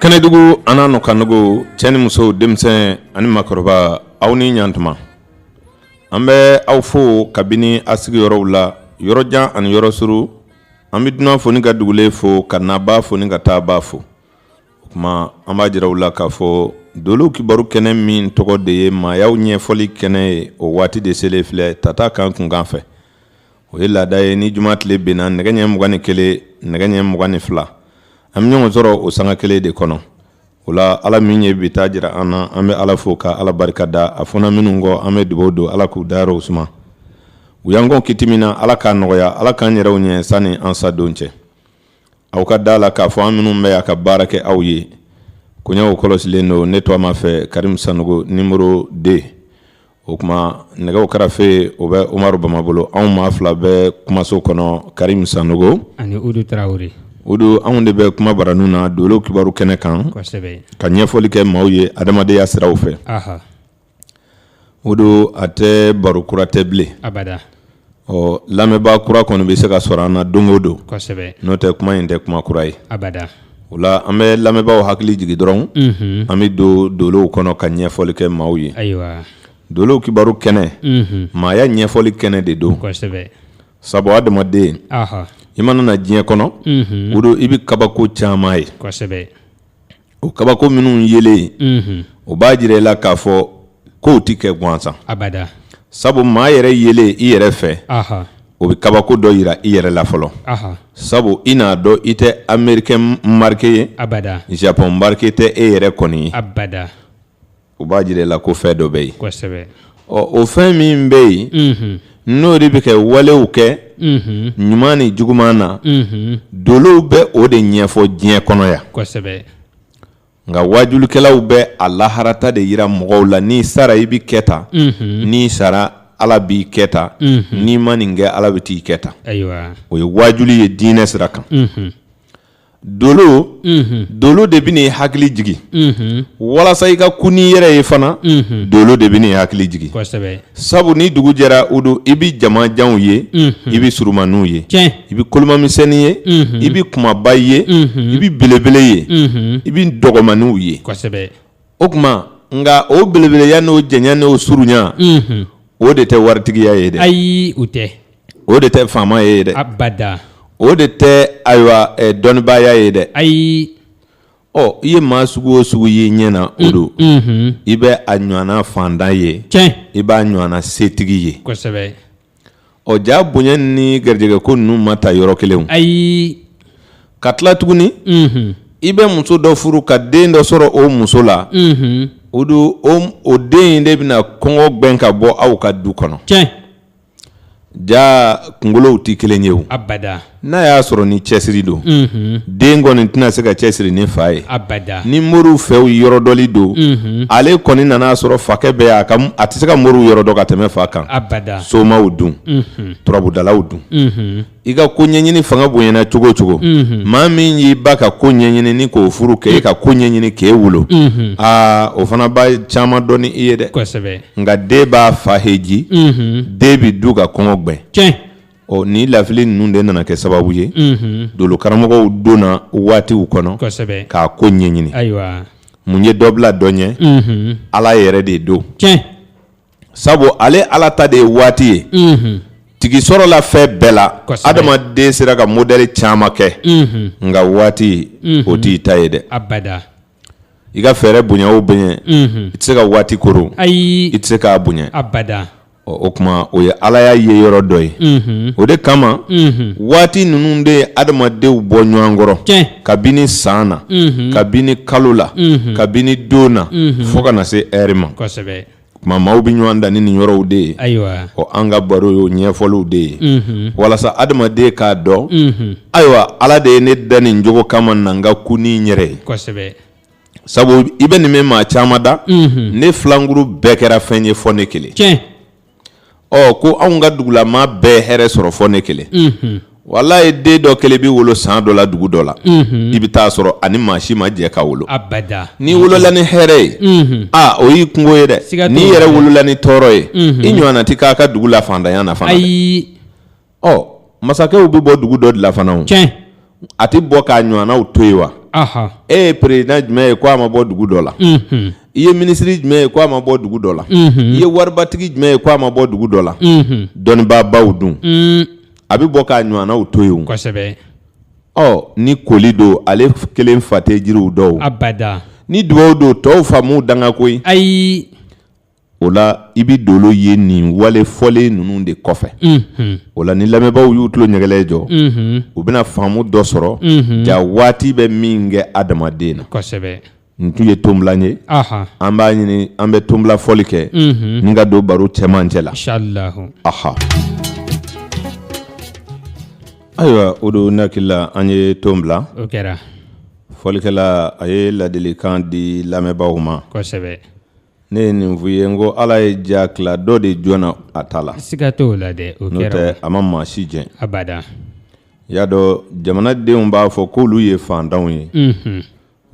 kɛnɛdugu an'a nɔkanduguw cɛ ni musow denmisɛn ani makɔrɔba aw ni ɲa tuma an bɛ aw fo kabini a sigiyɔrɔw la yɔrɔjan ani yɔrɔ suru an bɛ dunan fo ni ka dugulen fo ka nabaa fo ni ka taabaa fo o kuma an b'a jira aw la k'a fɔ dolow kibaru kɛnɛ min tɔgɔ de ye maayaw ɲɛfɔli kɛnɛ ye o waati de selen filɛ tata kan kunkan fɛ o ye laada ye ni juma tile binna nɛgɛ ɲɛ mugan ni kelen nɛgɛ ɲɛ mugan ni fila an bɛ ɲɔgɔn sɔrɔ o sanga kelen de kɔnɔ o la ala min ye bi ta jira an na an bɛ ala fo ka ala barika da a fɔra minnu kɔ an bɛ dugaw don ala k'u dayɔrɔw suma u y'an kɔn kiti min na ala k'a nɔgɔya ala k'an yɛrɛw ɲɛ sanni an sadon cɛ aw ka da a la k'a fɔ an minnu bɛ a ka baara kɛ aw ye koɲɛw kɔlɔsilen don ne tɔgɔma fɛ karim sanogo numéro deux o kuma nɛgɛw karafe o bɛ omar bama bolo anw maa fila bɛ kumaso kɔnɔ karim sanogo ani udu traoré udu anw de bɛ kuma baro nin na dolow kibaru kɛnɛ kan ka ɲɛfɔli kɛ maaw ye adamadenya siraw fɛ udu a tɛ baro kura tɛ bilen Ɔ lamɛnbaa kura kɔni bɛ se ka sɔrɔ an na don o don n'o tɛ kuma in tɛ kuma kura ye o la an bɛ lamɛnbaaw hakili jigin dɔrɔn an bɛ don dolow kɔnɔ ka ɲɛfɔli kɛ maaw ye dolow kibaru kɛnɛ maaya ɲɛfɔli kɛnɛ de don sabu adamaden i mana na diɲɛ kɔnɔ udu i bɛ kabako caman ye o kabako minnu yelen unhun o b'a jira i la k'a fɔ kow tɛ kɛ gansan abada sabu maa yɛrɛ yelen i yɛrɛ fɛ aha o bɛ kabako dɔ jira i yɛrɛ la fɔlɔ aha sabu i n'a dɔn i tɛ amerikɛn marike ye abada japɔn marike tɛ e yɛrɛ kɔni ye abada o b'a jira i la ko fɛn dɔ bɛ yen kosɛbɛ ɔ o fɛn min bɛ yen n'o de bɛ kɛ walew kɛ ɲuman ni juguman na dolow bɛ o de ɲɛfɔ diɲɛ kɔnɔ yan kosɛbɛ nka waajulikɛlaw bɛ a lahara ta de jira mɔgɔw la n'i sara i bɛ kɛ tan n'i sara ala b'i kɛ tan n'i ma nin kɛ ala bɛ t'i kɛ tan o ye waajuli ye diinɛ sira kan dolo de bɛ n'i hakili jigin walasa i ka kun n'i yɛrɛ ye fana dolo de bɛ n'i hakili jigin sabu ni dugu jɛra udu i bɛ jamanjanw ye i bɛ surunmaninw ye i bɛ kolomamisɛnnin ye i bɛ kumaba ye i bɛ belebele ye i bɛ dɔgɔmaninw ye o kuma nka o belebeleya n'o janya n'o surunya o de tɛ waritigiya ye dɛ ayi o tɛ o de tɛ faamaya ye dɛ abada o de tɛ ayiwa dɔnnibaaya ye dɛ ayi ɔ i ye maa sugu o sugu ye ɲɛ na udu i bɛ a ɲɔgɔnna faantan ye i b'a ɲɔgɔnna setigi ye kosɛbɛ ɔ jaa bonya ni garijɛgɛ ko ninnu ma ta yɔrɔ kelen ayi ka tila tuguni i bɛ muso dɔ furu ka den dɔ sɔrɔ o muso la o don o den in de bɛna kɔngɔ gbɛn ka bɔ aw ka du kɔnɔ tiɲɛ jaa kunkolow tɛ kelen ye o abada n'a y'a sɔrɔ ni cɛsiri don den kɔni tɛna se ka cɛsiri ni fa ye ni moriw fɛ yɔrɔ dɔnni don ale kɔni nana a sɔrɔ fakɛ b'a kan a tɛ se ka moriw yɔrɔ dɔn ka tɛmɛ fa kan somaw dun turabudalaw dun i ka ko ɲɛɲini fanga bonyana cogo cogo maa min y'i ba ka ko ɲɛɲini k'o furu k'e ka ko ɲɛɲini k'e wolo aa o fana b'a caman dɔn ni i ye dɛ nka den b'a fa heji den bɛ du ka kɔngɔ gbɛn ɔ ni lafili ninnu de nana kɛ sababu ye dolo karamɔgɔw donna waatiw kɔnɔ k'a ko ɲɛɲini mun ye dɔ bila dɔ ɲɛ ala yɛrɛ de don sabu ale ala ta de ye waati ye tigi sɔrɔla fɛn bɛɛ la adamaden sera ka modɛli caman kɛ nka waati o t'i ta ye dɛ i ka fɛɛrɛ bonya o bɛ ɲɛ i tɛ se ka waati koro ayi i tɛ se k'a bonya abada o kuma o ye ala y'a ye yɔrɔ dɔ ye o de kama waati ninnu de ye adamadenw bɔ ɲɔgɔn kɔrɔ kabini san na kabini kalo la kabini don na fo ka na se ɛri ma Tuma maaw bɛ ɲɔgɔn dan ni nin yɔrɔw de ye ayiwa o an ka baro y'o ɲɛfɔliw de ye walasa adamaden k'a dɔn ayiwa ala de ye ne dan nin cogo kama na n ka ko ni yɛrɛ ye sabu i bɛ nin mɛn maa caman da ne filankuru bɛɛ kɛra fɛn ye fo ne kelen tiɲɛ ɔ ko anw ka dugu la maa bɛɛ hɛrɛ sɔrɔ fo ne kelen walayi den dɔ kelen bɛ wolo san dɔ la dugu dɔ la i bɛ taa sɔrɔ a ni maa si ma jɛ ka wolo n'i wolola ni hɛrɛ ye aa o y'i kunko ye dɛ n'i yɛrɛ wolola ni tɔɔrɔ ye i ɲɔgɔnna tɛ k'aw ka dugu la fantanya na fana ɔ masakɛw bɛ bɔ dugu dɔ de la fana tiɲɛ a tɛ bɔ k'a ɲɔgɔnnaw to yen wa e ye peresidan jumɛn ye ko a ma bɔ dugu dɔ la i ye minisiri jumɛn ye ko a ma bɔ dugu dɔ la i ye waribatigi jumɛn ye ko a ma bɔ dugu dɔ la dɔnnibaabaw dun a bɛ bɔ k'a ɲɔgɔnnaw to yen kosɛbɛ ɔ ni koli don ale kelen fa tɛ jiriw dɔn abada ni dugaw don tɔw fa m'u danga koyi ayi o la i bɛ dolo ye nin wale fɔlen ninnu de kɔfɛ o la ni lamɛnbaaw y'u tulo ɲɛgɛlɛ jɔ u bɛna faamu dɔ sɔrɔ jaa waati bɛ min kɛ adamaden na nin tun ye tonbila ye an b'a ɲini an bɛ tonbila fɔli kɛ ni ka don baro cɛmancɛ la aha ayiwa o don ne hakili la an ye ton bila fɔlikɛla a ye ladilikan di lamɛnbaaw ma ne ye nin f'i ye n ko ala ye diya tila dɔ de jɔnna a ta la siga t'o la dɛ o n'o kɛra tɛ a ma maa si jɛn abada i y'a dɔn jamanadenw b'a fɔ k'olu ye faantanw ye Mhm.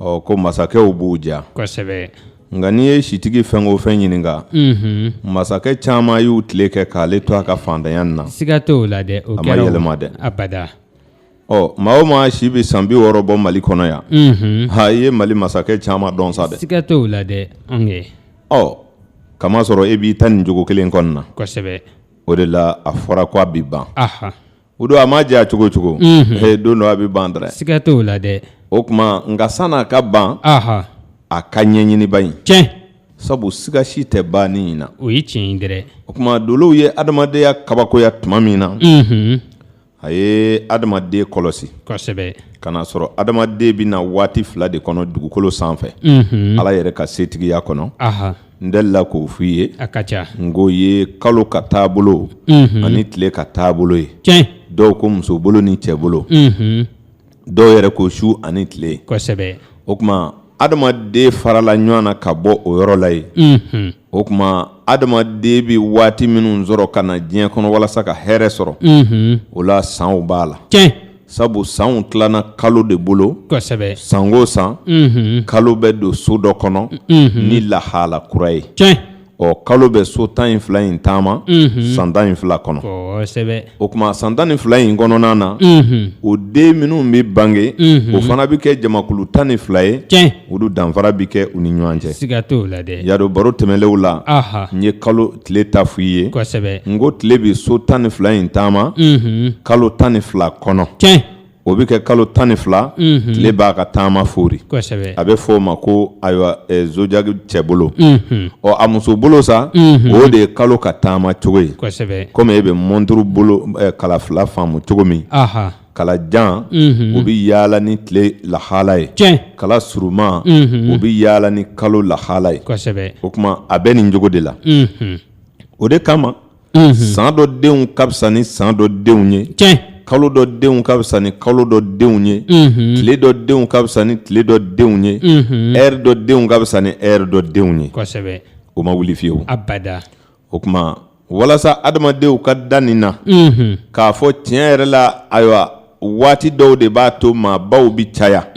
ɔ ko masakɛw b'u ja kosɛbɛ nka n'i ye sitigi fɛn o fɛn ɲininka Mhm. masakɛ caman y'u tile kɛ k'ale to a ka faantanya nin na siga t'o la dɛ o A ma kɛra o. yɛlɛma dɛ. abada Ɔ maa o maa si bɛ san bi wɔɔrɔ bɔ mali kɔnɔ yan h i ye mali masakɛ caman dɔn sa dɛ siga t'o la dɛ ɔ k'a masɔrɔ e b'i ta nin cogo kelen kɔnɔna na kosɛbɛ o de la a fɔra ko a bɛ ban o don a maa diya cogo cogo h don dɔ a bɛ ban dɛrɛ siga t'o la dɛ o tuma nka sann'a ka ban a ka ɲɛɲiniba in tiɲɛ sabu siga si tɛ banni in na o ye tiɲɛ ye dɛ o tuma dolow ye adamadenya kabakoya tuma min na a ye adamaden kɔlɔsi kosɛbɛ ka n'a sɔrɔ adamaden bɛ na waati fila de kɔnɔ dugukolo sanfɛ ala yɛrɛ ka setigiya kɔnɔ n delila k'o f'i ye a ka ca n k'o ye kalo ka taabolo ani tile ka taabolo ye dɔw ko muso bolo ni cɛ bolo dɔw yɛrɛ ko su ani tile kosɛbɛ o tuma adamaden farala ɲɔgɔn na ka bɔ o yɔrɔ la yen o tuma adamaden bɛ waati minnu sɔrɔ ka na diɲɛ kɔnɔ walasa ka hɛrɛ sɔrɔ o la sanw b'a la sabu sanw tilanna kalo de bolo kosɛbɛ san o san kalo bɛ don so dɔ kɔnɔ ni lahala kura ye ɔ kalo bɛ so tan ni fila in taama san tan ni fila kɔnɔ o tuma san tan ni fila in kɔnɔna na o den minnu bɛ bange o fana bɛ kɛ jamakulu tan ni fila ye olu danfara bɛ kɛ u ni ɲɔgɔn cɛ y'a dɔn baro tɛmɛlenw la n ye kalo tile ta f'i ye n ko tile bɛ so tan ni fila in taama kalo tan ni fila kɔnɔ o bɛ kɛ kalo tan ni fila tile b'a ka taama foori a bɛ fɔ o ma ko ayiwa zodiyaki cɛ bolo ɔ a muso bolo sa o de ye kalo ka taama cogo ye komi e bɛ mɔnturu bolo kala fila faamu cogo min kala jan o bɛ yaala ni tile lahala ye kala surunma o bɛ yaala ni kalo lahala ye o tuma a bɛ nin cogo de la o de kama san dɔ denw ka fisa ni san dɔ denw ye kalo dɔ denw ka fisa ni kalo dɔ denw ye tile dɔ denw ka fisa ni tile dɔ denw ye ɛri dɔ denw ka fisa ni ɛri dɔ denw ye o ma wuli fiyewu o tuma walasa adamadenw ka da nin na k'a fɔ tiɲɛ yɛrɛ la ayiwa waati dɔw de b'a to maabaw bɛ caya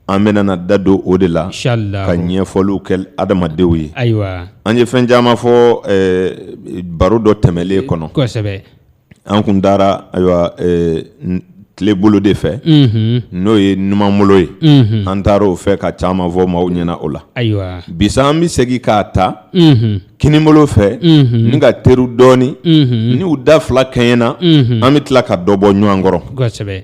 an bɛna da don o de la ka ɲɛfɔliw kɛ adamadenw ye ayiwa an ye fɛn caman fɔ baro dɔ tɛmɛlen kɔnɔ kosɛbɛ an kun taara ayiwa tile bolo de fɛ n'o ye numanbolo ye an taara o fɛ ka caman fɔ maaw ɲɛna o la ayiwa bi sa an bɛ segin k'a ta kinibolo fɛ ni ka terun dɔɔnin n'u da fila kɛɲɛna an bɛ tila ka dɔ bɔ ɲɔgɔn kɔrɔ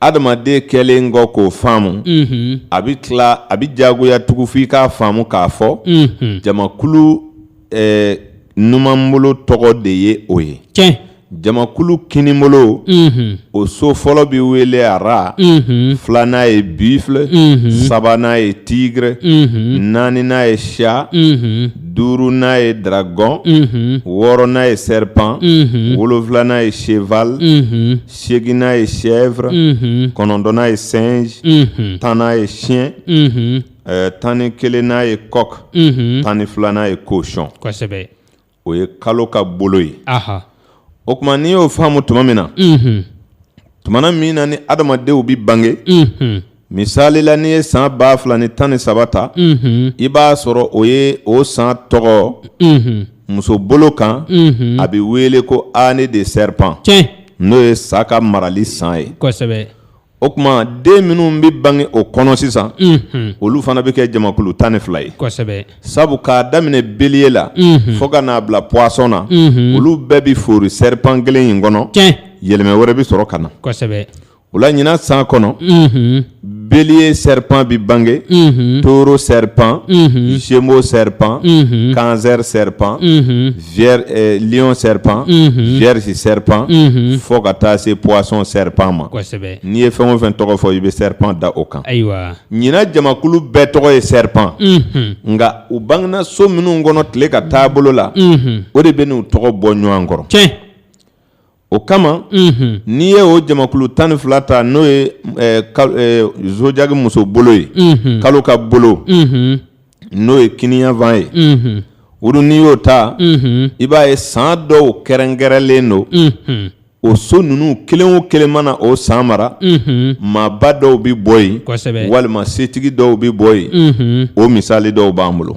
adamaden kɛlen kɔ k'o faamu a bɛ tila a bɛ jagoya tugun f'i k'a faamu k'a fɔ jamakulu eh, numanbolo tɔgɔ de ye o ye tiɲɛ jamakulu kinibolo o so fɔlɔ bɛ wele rat filanan ye buffle sabanan ye tigre naaninan ye chat duurunan ye dragon wɔɔrɔnan ye serpent wolonfilanan ye cheval seginnan ye chèvre mhm. kɔnɔntɔnnan ye singe mhm. tannan ye chien mhm. eh, tan ni kelennan ye coq tan ni filanan ye cochon kosɛbɛ o ye kalo ka bolo ye o tuma n'i y'o faamu tuma min na tumana min na ni adamadenw bi bange Misali la n'i ye san ba fila ni tan ni saba ta i b'a sɔrɔ o ye o san tɔgɔ muso bolo kan a bɛ wele ko année de serpent n'o ye sa ka marali san ye o tuma den minnu bɛ bange o kɔnɔ sisan olu fana bɛ kɛ jamakulu tan ni fila ye sabu k'a daminɛ bélier la fo ka n'a bila poisson na olu bɛɛ bɛ foori serpent kelen in kɔnɔ yɛlɛmɛ wɛrɛ bɛ sɔrɔ ka na O la ɲin san kɔnɔ bele ye sɛri pan bɛ bange toro sɛri pan zmo sɛri pan kanzɛri sɛri pan ɔn sɛri pan vri sɛri pan fo ka taa se psɔn sɛri pan ma n'i ye fɛn o fɛn tɔgɔ fɔ i bɛ sɛri pan da o kan ayiwa ɲininɛna jamakulu bɛɛ tɔgɔ ye sɛri pan nka u bangegnaso minnu kɔnɔ tile ka taabolo bolo la o de bɛ n'u tɔgɔ bɔ ɲɔgɔn kɔrɔ cɛ o kama n'i ye o jamakulu tan ni fila ta n'o ye zodiaque muso bolo ye kalo ka bolo n'o ye kiniyanfan ye olu n'i y'o ta i b'a ye san dɔw kɛrɛnkɛrɛnlen don o so ninnu kelen o kelen mana o san mara maaba dɔw bɛ bɔ yen walima setigi dɔw bɛ bɔ yen o misali dɔw b'an bolo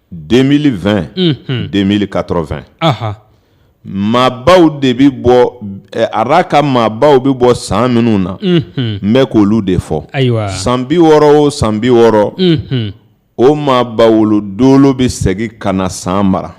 deux mille vingt deux mille quatre-vingts maabaw de bɛ bɔ rat ka maabaw bɛ bɔ san minnu na n bɛ k' olu de fɔ ayiwa san bi wɔɔrɔ o san bi wɔɔrɔ o maaba wolo dolo bɛ segin ka na san mara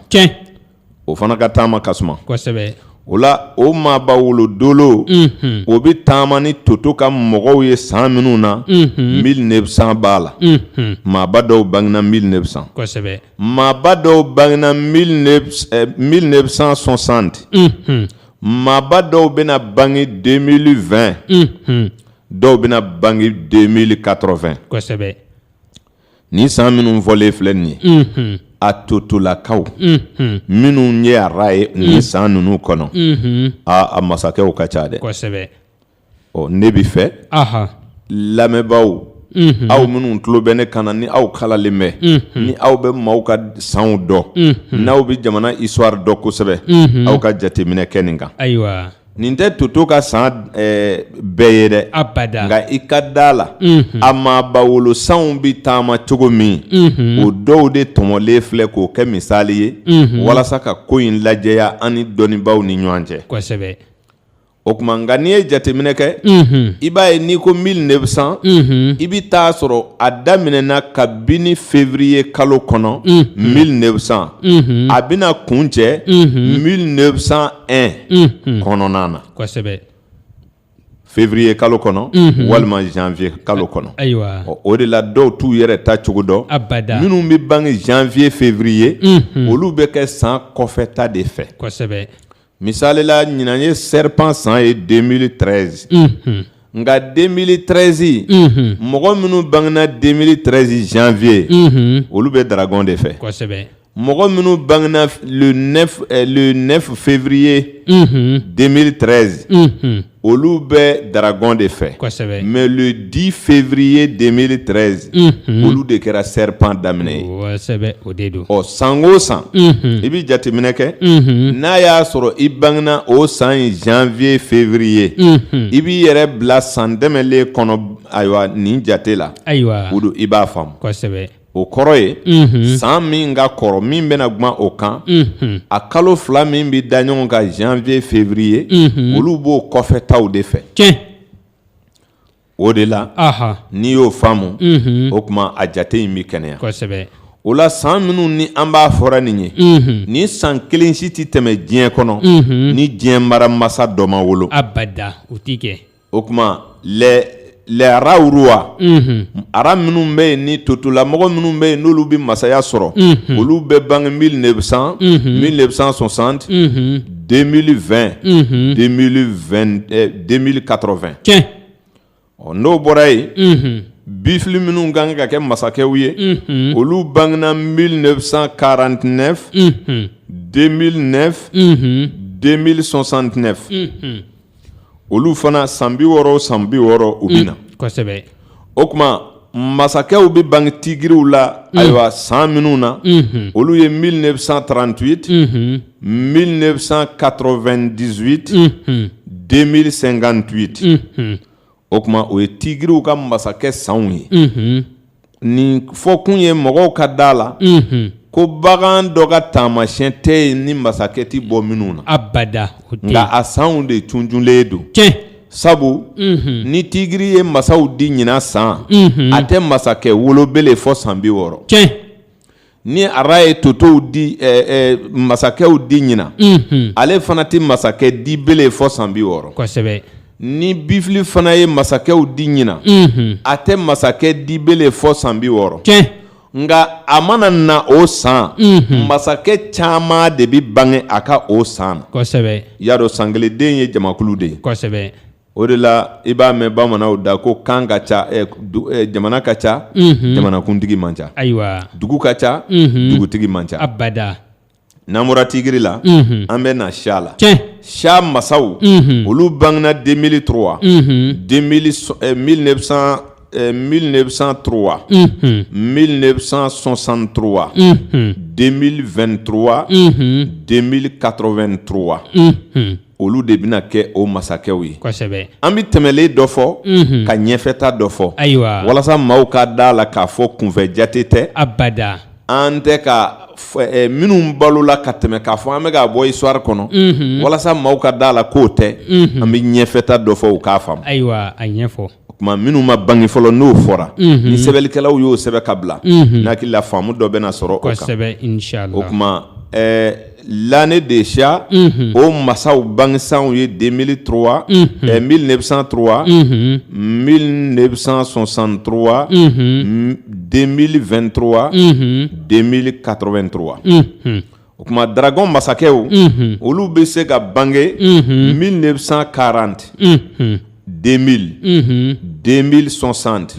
o fana ka taama ka suma kosɛbɛ o la o maaba wolodolo unhun o bɛ taama ni toto ka mɔgɔw ye san minnu na unhun 1900 b'a la unhun maaba dɔw bangena 1900 kosɛbɛ maaba dɔw bangena 1900 eh, 1960 unhun maaba dɔw bɛna bange 2020 unhun dɔw bɛna bange 2080 kosɛbɛ ni san minnu fɔlen filɛ nin ye a totolakaw minnu ye rat ye ni san ninnu kɔnɔ a masakɛw ka ca dɛ ne b'a fɛ lamɛnbaaw aw minnu tulo bɛ ne kan na ni aw kalalen bɛ ni aw bɛ maaw ka sanw dɔn n'aw bɛ jamana histoire dɔn kosɛbɛ aw ka jateminɛ kɛ nin kan Nin tɛ toto ka san bɛɛ ye dɛ abada nka i ka da la a maaba wolo sanw bɛ taama cogo min o dɔw de tɔmɔlen filɛ k'o kɛ misali ye walasa ka ko in lajɛya an ni dɔnnibaaw ni ɲɔgɔn cɛ kosɛbɛ o tuma nka n'i ye jateminɛ kɛ i b'a ye n'i ko 1900 i bɛ t'a sɔrɔ a daminɛna kabini février kalo kɔnɔ 1900 a bɛna kuncɛ 1900 un kɔnɔna na février kalo kɔnɔ walima janvier kalo kɔnɔ o de la dɔw t'u yɛrɛ ta cogo dɔn minnu bɛ bange janvier février olu bɛ kɛ san kɔfɛta de fɛ misali la ɲinan ye serpent san ye 2013 nka 2013 mɔgɔ minnu bangena 2013 janvier olu bɛ dragon de fɛ. mɔgɔ minnu bangena le 9 eh, le 9 février mm 2013 -hmm. olu bɛ Dragon de fɛ kosɛbɛ mais le 10 février 2013 mm -hmm. olu de kɛra serpent daminɛ ye kosɛbɛ o de don ɔ san o san mm -hmm. i bɛ jateminɛ kɛ mm -hmm. n'a y'a sɔrɔ i bangena o san in janvier février mm -hmm. i b'i yɛrɛ bila san tɛmɛlen kɔnɔ ayiwa nin jate la ayiwa o don i b'a faamu kosɛbɛ o kɔrɔ ye san min ka kɔrɔ min bɛna kuma o kan a kalo fila min bɛ da ɲɔgɔn kan janvier février olu b'o kɔfɛtaw de fɛ o de la n'i y'o faamu o tuma a jate in bɛ kɛnɛya o la san minnu ni an b'a fɔra nin ye ni san kelen si tɛ tɛmɛ diɲɛ kɔnɔ ni diɲɛ mara masa dɔ ma wolo o tuma lɛyararawa ara minnu bɛ yen ni totolamɔgɔ minnu bɛ yen n'olu bɛ masaya sɔrɔ olu bɛ bange mi de bɛ san mi de bɛ san sɔn san den fɛn den karɔfɛn ɔ n'o bɔra yen bif minnu kan ka kɛ masakɛw ye olu bangegna mi de bɛ san karan tɛ den den sɔn santɛ olu fana san bi wɔɔrɔ san bi wɔɔrɔ u bɛ na kosɛbɛ o tuma masakɛw bɛ bange tigigiriw la ayiwa san minnu na olu ye mi de bɛ san tranti mi de bɛ san kato2 dizwiti den miiri senkan doti o tuma o ye tigiriw ka masakɛ sanw ye nin fɔkun ye mɔgɔw ka da la ko bagan dɔ ka taamasiyɛn tɛ yen ni masakɛ tɛ bɔ minnu na abada nka a sanw de tuntunlen don cɛ sabu ni tigiri ye masaw di ɲinan san a tɛ masakɛ wolo bele fɔ san bi wɔɔrɔ cɛ ni ara ye totow di eh, eh, masakɛw di ɲinan mhm. ale fana tɛ masakɛ di bele fɔ san bi wɔɔrɔ kosɛbɛ ni bifili fana ye masakɛw di ɲinan mhm. a tɛ masakɛ di bele fɔ san bi wɔɔrɔ nka a mana na o san mhm. masakɛ caman de bɛ bange a ka o san na kosɛbɛ y'a dɔn sankelenden ye jamakulu de ye kosɛbɛ o de la i b'a mɛn bamananw da ko kan ka ca eh, du- eh, jamana ka ca Mhm. jamanakuntigi man ca ayiwa dugu ka ca Mhm. dugutigi man ca abada n'an bɔra tigiri la Mhm. an bɛ na siya la tiɲɛ siya masaw Mhm. olu bangena 2003 Mhm. 2000 so- eh, 1900, eh, 1903 Mhm. 1963 Mhm. 2023 Mhm. 2083 Mhm. olu de bɛna kɛ o masakɛw ye kosɛbɛ an bɛ tɛmɛlen dɔ fɔ mhm. ka ɲɛfɛta dɔ fɔ ayiwa walasa maaw ka da la k'a fɔ kunfɛ jate tɛ abada an tɛ ka eh, minnu balola ka tɛmɛ k'a fɔ an bɛ k'a bɔ histoire kɔnɔ mhm. walasa maaw ka da la k'o tɛ mhm. an bɛ ɲɛfɛta dɔ fɔ u k'a faamu ayiwa a ɲɛfɔ o tuma minnu ma bange fɔlɔ n'o fɔra ni sɛbɛnlikɛlaw y'o sɛbɛn ka bila n'hakili la faamu dɔ bɛna sɔrɔ o kan kosɛbɛ o tuma ɛɛ l'année de siya o masaw bangesanw ye 2003 ɛɛ 1903 1963 2023 2083 o tuma dragon masakɛw olu bɛ se ka bange mille neuf cent quarante deux mille deux mille soixante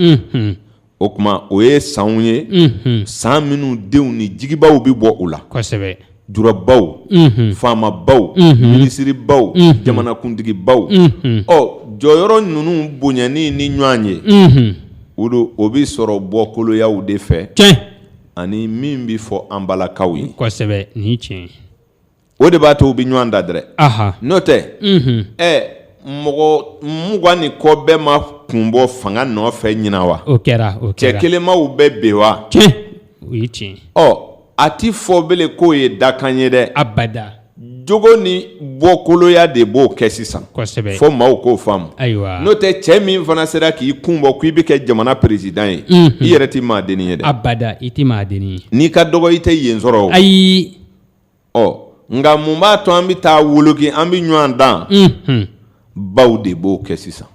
o tuma o ye sanw ye san minnu denw ni jigibaw bɛ bɔ u la kosɛbɛ jurabaw faamabaw minisiriribaw jamanakuntigibaw ɔ jɔyɔrɔ ninnu bonyani ni ɲɔgɔn ye o don o bɛ sɔrɔ bɔkoloyaw de fɛ ani min bɛ fɔ an balakaw ye kosɛbɛ ni tiɲɛ o de b'a to u bɛ ɲɔgɔn dan dɛrɛ n'o tɛ ɛ mɔgɔ mugan ni kɔ bɛɛ ma kun bɔ fanga nɔfɛ ɲinan wa o kɛra o cɛ kelenmaw bɛ bɛn wa o ye tiɲɛ ɔ a tɛ fɔ bele k'o ye dakan ye dɛ abada jogo ni bɔkoloya de b'o kɛ sisan fo maaw k'o faamu n'o tɛ cɛ min fana sera k'i kun bɔ k'i bɛ kɛ jamana peresidan ye i yɛrɛ tɛ maadenni ye dɛ abada i tɛ maadenni ye n'i ka dɔgɔ i tɛ yen sɔrɔ ayi ɔ nka mun b'a to an bɛ taa woloki an bɛ ɲɔgɔn dan baw de b'o kɛ sisan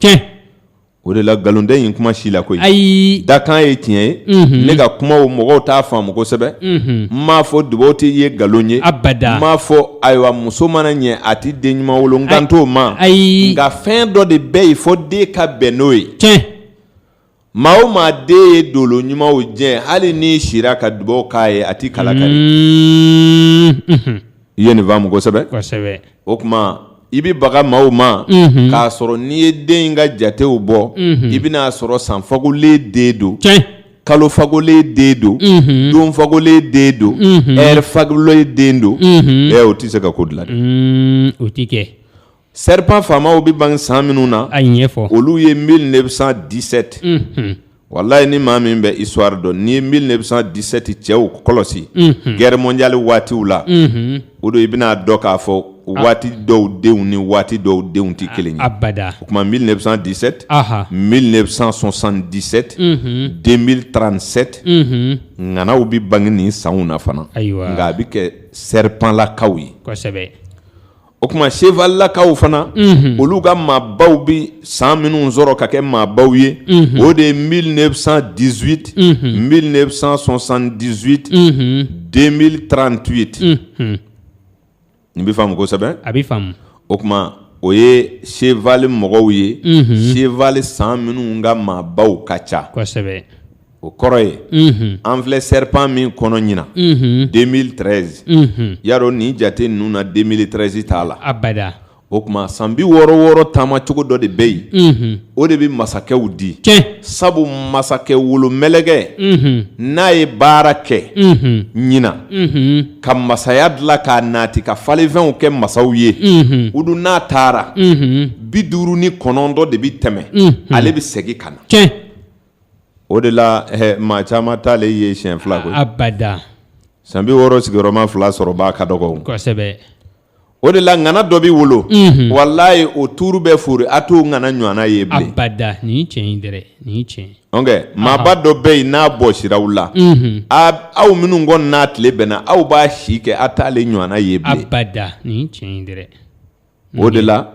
O de la nkalon tɛ nin kuma si la koyi ayi dakan ye tiɲɛ ye ne ka kumaw mɔgɔw t'a faamu kosɛbɛ n m'a fɔ dubaw tɛ ye nkalon ye abada n m'a fɔ ayiwa muso mana ɲɛ a tɛ den ɲuman wolo n kan t'o ma ayi nka fɛn dɔ de bɛ yen fo den ka bɛn n'o ye tiɲɛ maa o maa den ye dolo ɲumanw jɛ hali n'i sira ka dubaw k'a ye a tɛ kala kari I ye nin faamu kosɛbɛ kosɛbɛ o tuma i bɛ baga maaw ma k'a sɔrɔ n'i ye den in ka jatew bɔ i bɛn'a sɔrɔ san fagolen den don kalo fagolen den don don fagolen den don ɛri fagolen den don ɛ o tɛ se ka ko dilan o tɛ kɛ Serip faamaw bɛ ban san minnu na a ɲɛ ɲɛfɔ olu ye mi de bɛ san disɛte wala ye ni maa min bɛ iwari dɔn ni ye mi de bɛ disɛti cɛw kɔlɔsi gɛrɛɛrɛmɔndiyali waatiw la o don i bɛna'a dɔn k'a fɔ waati dɔw denw ni waati dɔw denw tɛ kelen abada o tuma mi de bɛ disete mi de bɛ sɔsan disɛte den mi ta nisɛte ŋanaw bɛ bange ni san na fana ayiwa nka a bɛ kɛ seripla ka ye o tuma selakaw fana olu ka maabaw bɛ san minnu sɔrɔ ka kɛ maabaw ye o de ye mi diz mi sɔsan diz den mieli tranti ye ten n bɛ faamu kosɛbɛ a bɛ faamu o tuma o ye se mɔgɔw ye se san minnu ka maabaw ka ca kosɛbɛ o kɔrɔ ye an filɛ serpent min kɔnɔ ɲinan 2013 ya dɔn nin jate ninnu na 2013 t'a la o tuma san bi wɔɔrɔ wɔɔrɔ taama cogo dɔ de bɛ yen o de bɛ masakɛw di sabu masakɛ wolomɛlɛkɛ n'a ye baara kɛ ɲinan ka masaya dilan k'a nati ka falenfɛnw kɛ masaw ye o dun n'a taara bi duuru ni kɔnɔntɔn de bɛ tɛmɛ ale bɛ segin ka na o de la maa caman t'ale ye siɲɛ fila bada san bi wɔɔrɔ sigiyɔrɔma fila sɔrɔbaa ka dɔgɔ kosɛbɛ o de la ŋana dɔ bɛ wolo walayi o tuuru bɛ fori a t'o ŋana ɲɔgɔnna ye bilen abada nin tiɲɛ nin tiɲɛ maaba dɔ bɛ yen n'a bɔsira aw la aw minnu kɔni n'a tile bɛnna aw b'a si kɛ a t'ale ɲɔgɔnna ye bilen abada nin tiɲɛ o de la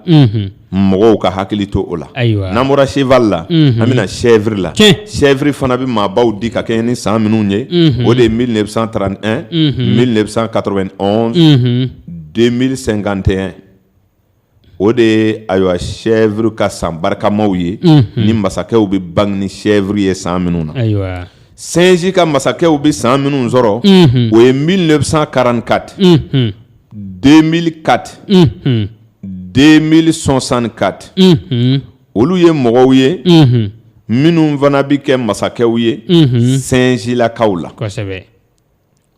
mɔgɔw ka hakili to o la n'an bɔra sefa la an bɛna sɛri la sɛri fana bɛ maabaw di ka kɛ ni san minnu ye o de ye mi de bɛ san taara ni mi de bɛ san kato den mi senkantɛɛn o de ye ayiwa sɛuru ka san barikamaw ye ni masakɛw bɛ bange ni sɛuru ye san minnu na sinji ka masakɛw bɛ san minnu sɔrɔ o ye mi de bɛ san karankati 2004 unhun 2064 unhun olu ye mɔgɔw ye unhun minnu fana bɛ kɛ masakɛw ye unhun sɛnzilakaw la kosɛbɛ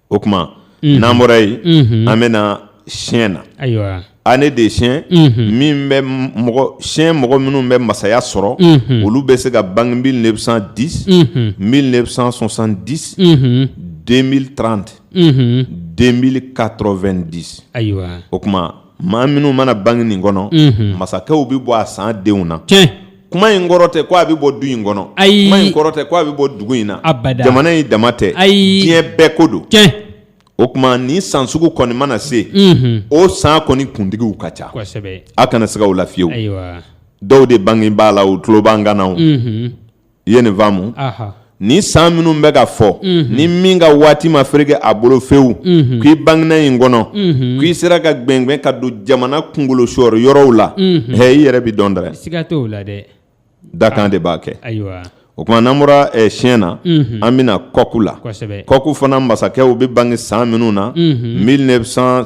o tuma n'an bɔra yen unhun an bɛna chien na ayiwa année de chien unhun min bɛ m- mɔgɔ chien mɔgɔ minnu bɛ masaya sɔrɔ unhun olu bɛ se ka bange 1910 unhun 1970 unhun 2030 2090 ayiwa o tuma maa minnu mana bange nin kɔnɔ masakɛw bɛ bɔ a san denw na kuma in kɔrɔ tɛ ko a bɛ bɔ du in kɔnɔ ayi kuma in kɔrɔ tɛ ko a bɛ bɔ dugu in na a jamana in dama tɛ ayi diɲɛ bɛɛ ko don o tuma ni san sugu kɔni mana se o san kɔni kuntigiw ka ca a kana siga o la fiyewu dɔw de bange b'a la u tulo b'an kan na o i ye nin faamu ni san minnu bɛ ka fɔ mhm. ni min ka waati ma fereke a bolo fewu mhm. k'i bangena nin kɔnɔ mhm. k'i sera ka gbɛngbɛn ka don jamana kunkolo sɔrɔ yɔrɔw la hɛ i yɛrɛ bɛ dɔn dɛrɛ siga t'o la dɛ dakan ah. de b'a kɛ ayiwa o tuma n'an bɔra eh, chien na an bɛna coq la coq fana masakɛw bɛ bange san minnu na 1900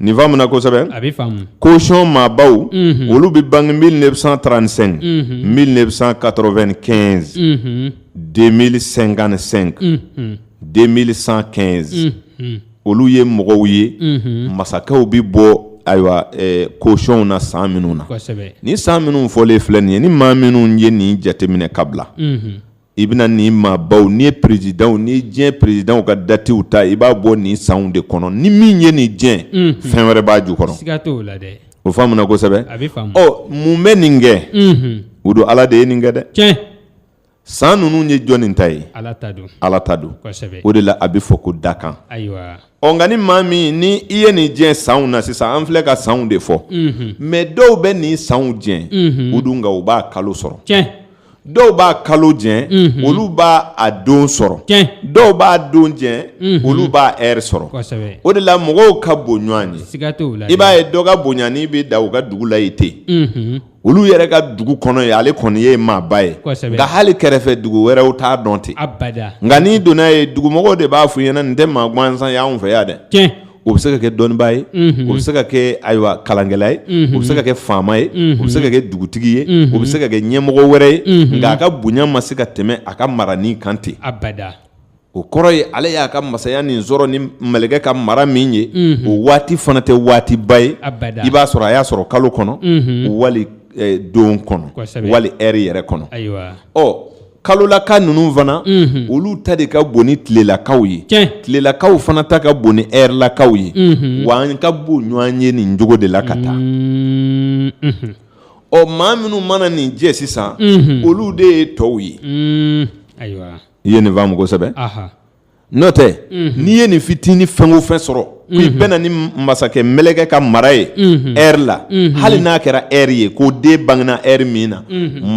Nin faamuya kosɛbɛ a bɛ faamu koyɔn maabaw olu bɛ bange mi de bɛ san tan nisɛn mi de bɛ san kato2 kɛ den mi senkan nisenka den mi san kɛ olu ye mɔgɔw ye masakɛw bɛ bɔ ayiwa koyɔnw na san minnu na ni san minnu fɔlen filɛ nin ye ni maa minnu ye nin jateminɛ kabila i bɛna nin maabaw n'i ye perezidanw n'i ye diɲɛ perezidanw ka datew ta i b'a bɔ nin sanw de kɔnɔ ni min ye nin jɛ unhun, fɛn wɛrɛ b'a jukɔrɔ siga t'o la dɛ o faamuna kosɛbɛ a bɛ faamu ɔ mun bɛ nin kɛ unhun, o don ala de ye nin kɛ dɛ tiɲɛ san ninnu ye jɔnni ta ye ala ta don ala ta don kosɛbɛ o de la a bɛ fɔ ko dakan ayiwa ɔ nka ni maa min ni i ye nin jɛ sanw na sisan an filɛ ka sanw de fɔ unhun, mɛ dɔw bɛ nin sanw jɛ unhun, o dun nka u b'a kalo sɔrɔ tiɲɛ dɔw b'a kalo jɛ mhm. olu b'a a don sɔrɔ dɔw b'a don jɛ mhm. olu b'a ɛri sɔrɔ o de la mɔgɔw ka bon ɲɔgɔn ye i b'a ye dɔ ka bonyani bɛ dan u ka dugu la yen ten mhm. olu yɛrɛ ka dugu kɔnɔ yen ale kɔni ye maaba ye nka hali kɛrɛfɛ dugu wɛrɛw t'a dɔn ten nka n'i donna yen dugumɔgɔw de b'a fɔ i ɲɛna nin tɛ maa gansan ye anw fɛ yan dɛ o bɛ se ka kɛ dɔnnibaa ye o bɛ se ka kɛ ayiwa kalankɛla ye o bɛ se ka kɛ faama ye o bɛ se ka kɛ dugutigi ye o bɛ se ka kɛ ɲɛmɔgɔ wɛrɛ ye nka a ka bonya ma se ka tɛmɛ a ka mara nin kan ten abada o kɔrɔ ye ale y'a ka masaya nin sɔrɔ ni mɛlɛkɛ ka mara min ye o waati fana tɛ waatiba ye a i b'a sɔrɔ a y'a sɔrɔ kalo kɔnɔ wali don kɔnɔ wali ɛri yɛrɛ kɔnɔ ɔ kalolaka ninnu fana olu ta de ka bon ni tilelakaw ye tilelakaw fana ta ka bon ni ɛrilakaw ye wa an ka bon ɲɔgɔn ye nin cogo de la ka taa ɔ maa minnu mana nin jɛ sisan olu de ye tɔw ye ayiwa i ye nin faamu kosɛbɛ N'o tɛ n'i ye nin fitinin fɛn o fɛn sɔrɔ k'i bɛnna ni masakɛ mɛlɛkɛ ka mara ye ɛri la hali n'a kɛra ɛri ye ko den bangena ɛri min na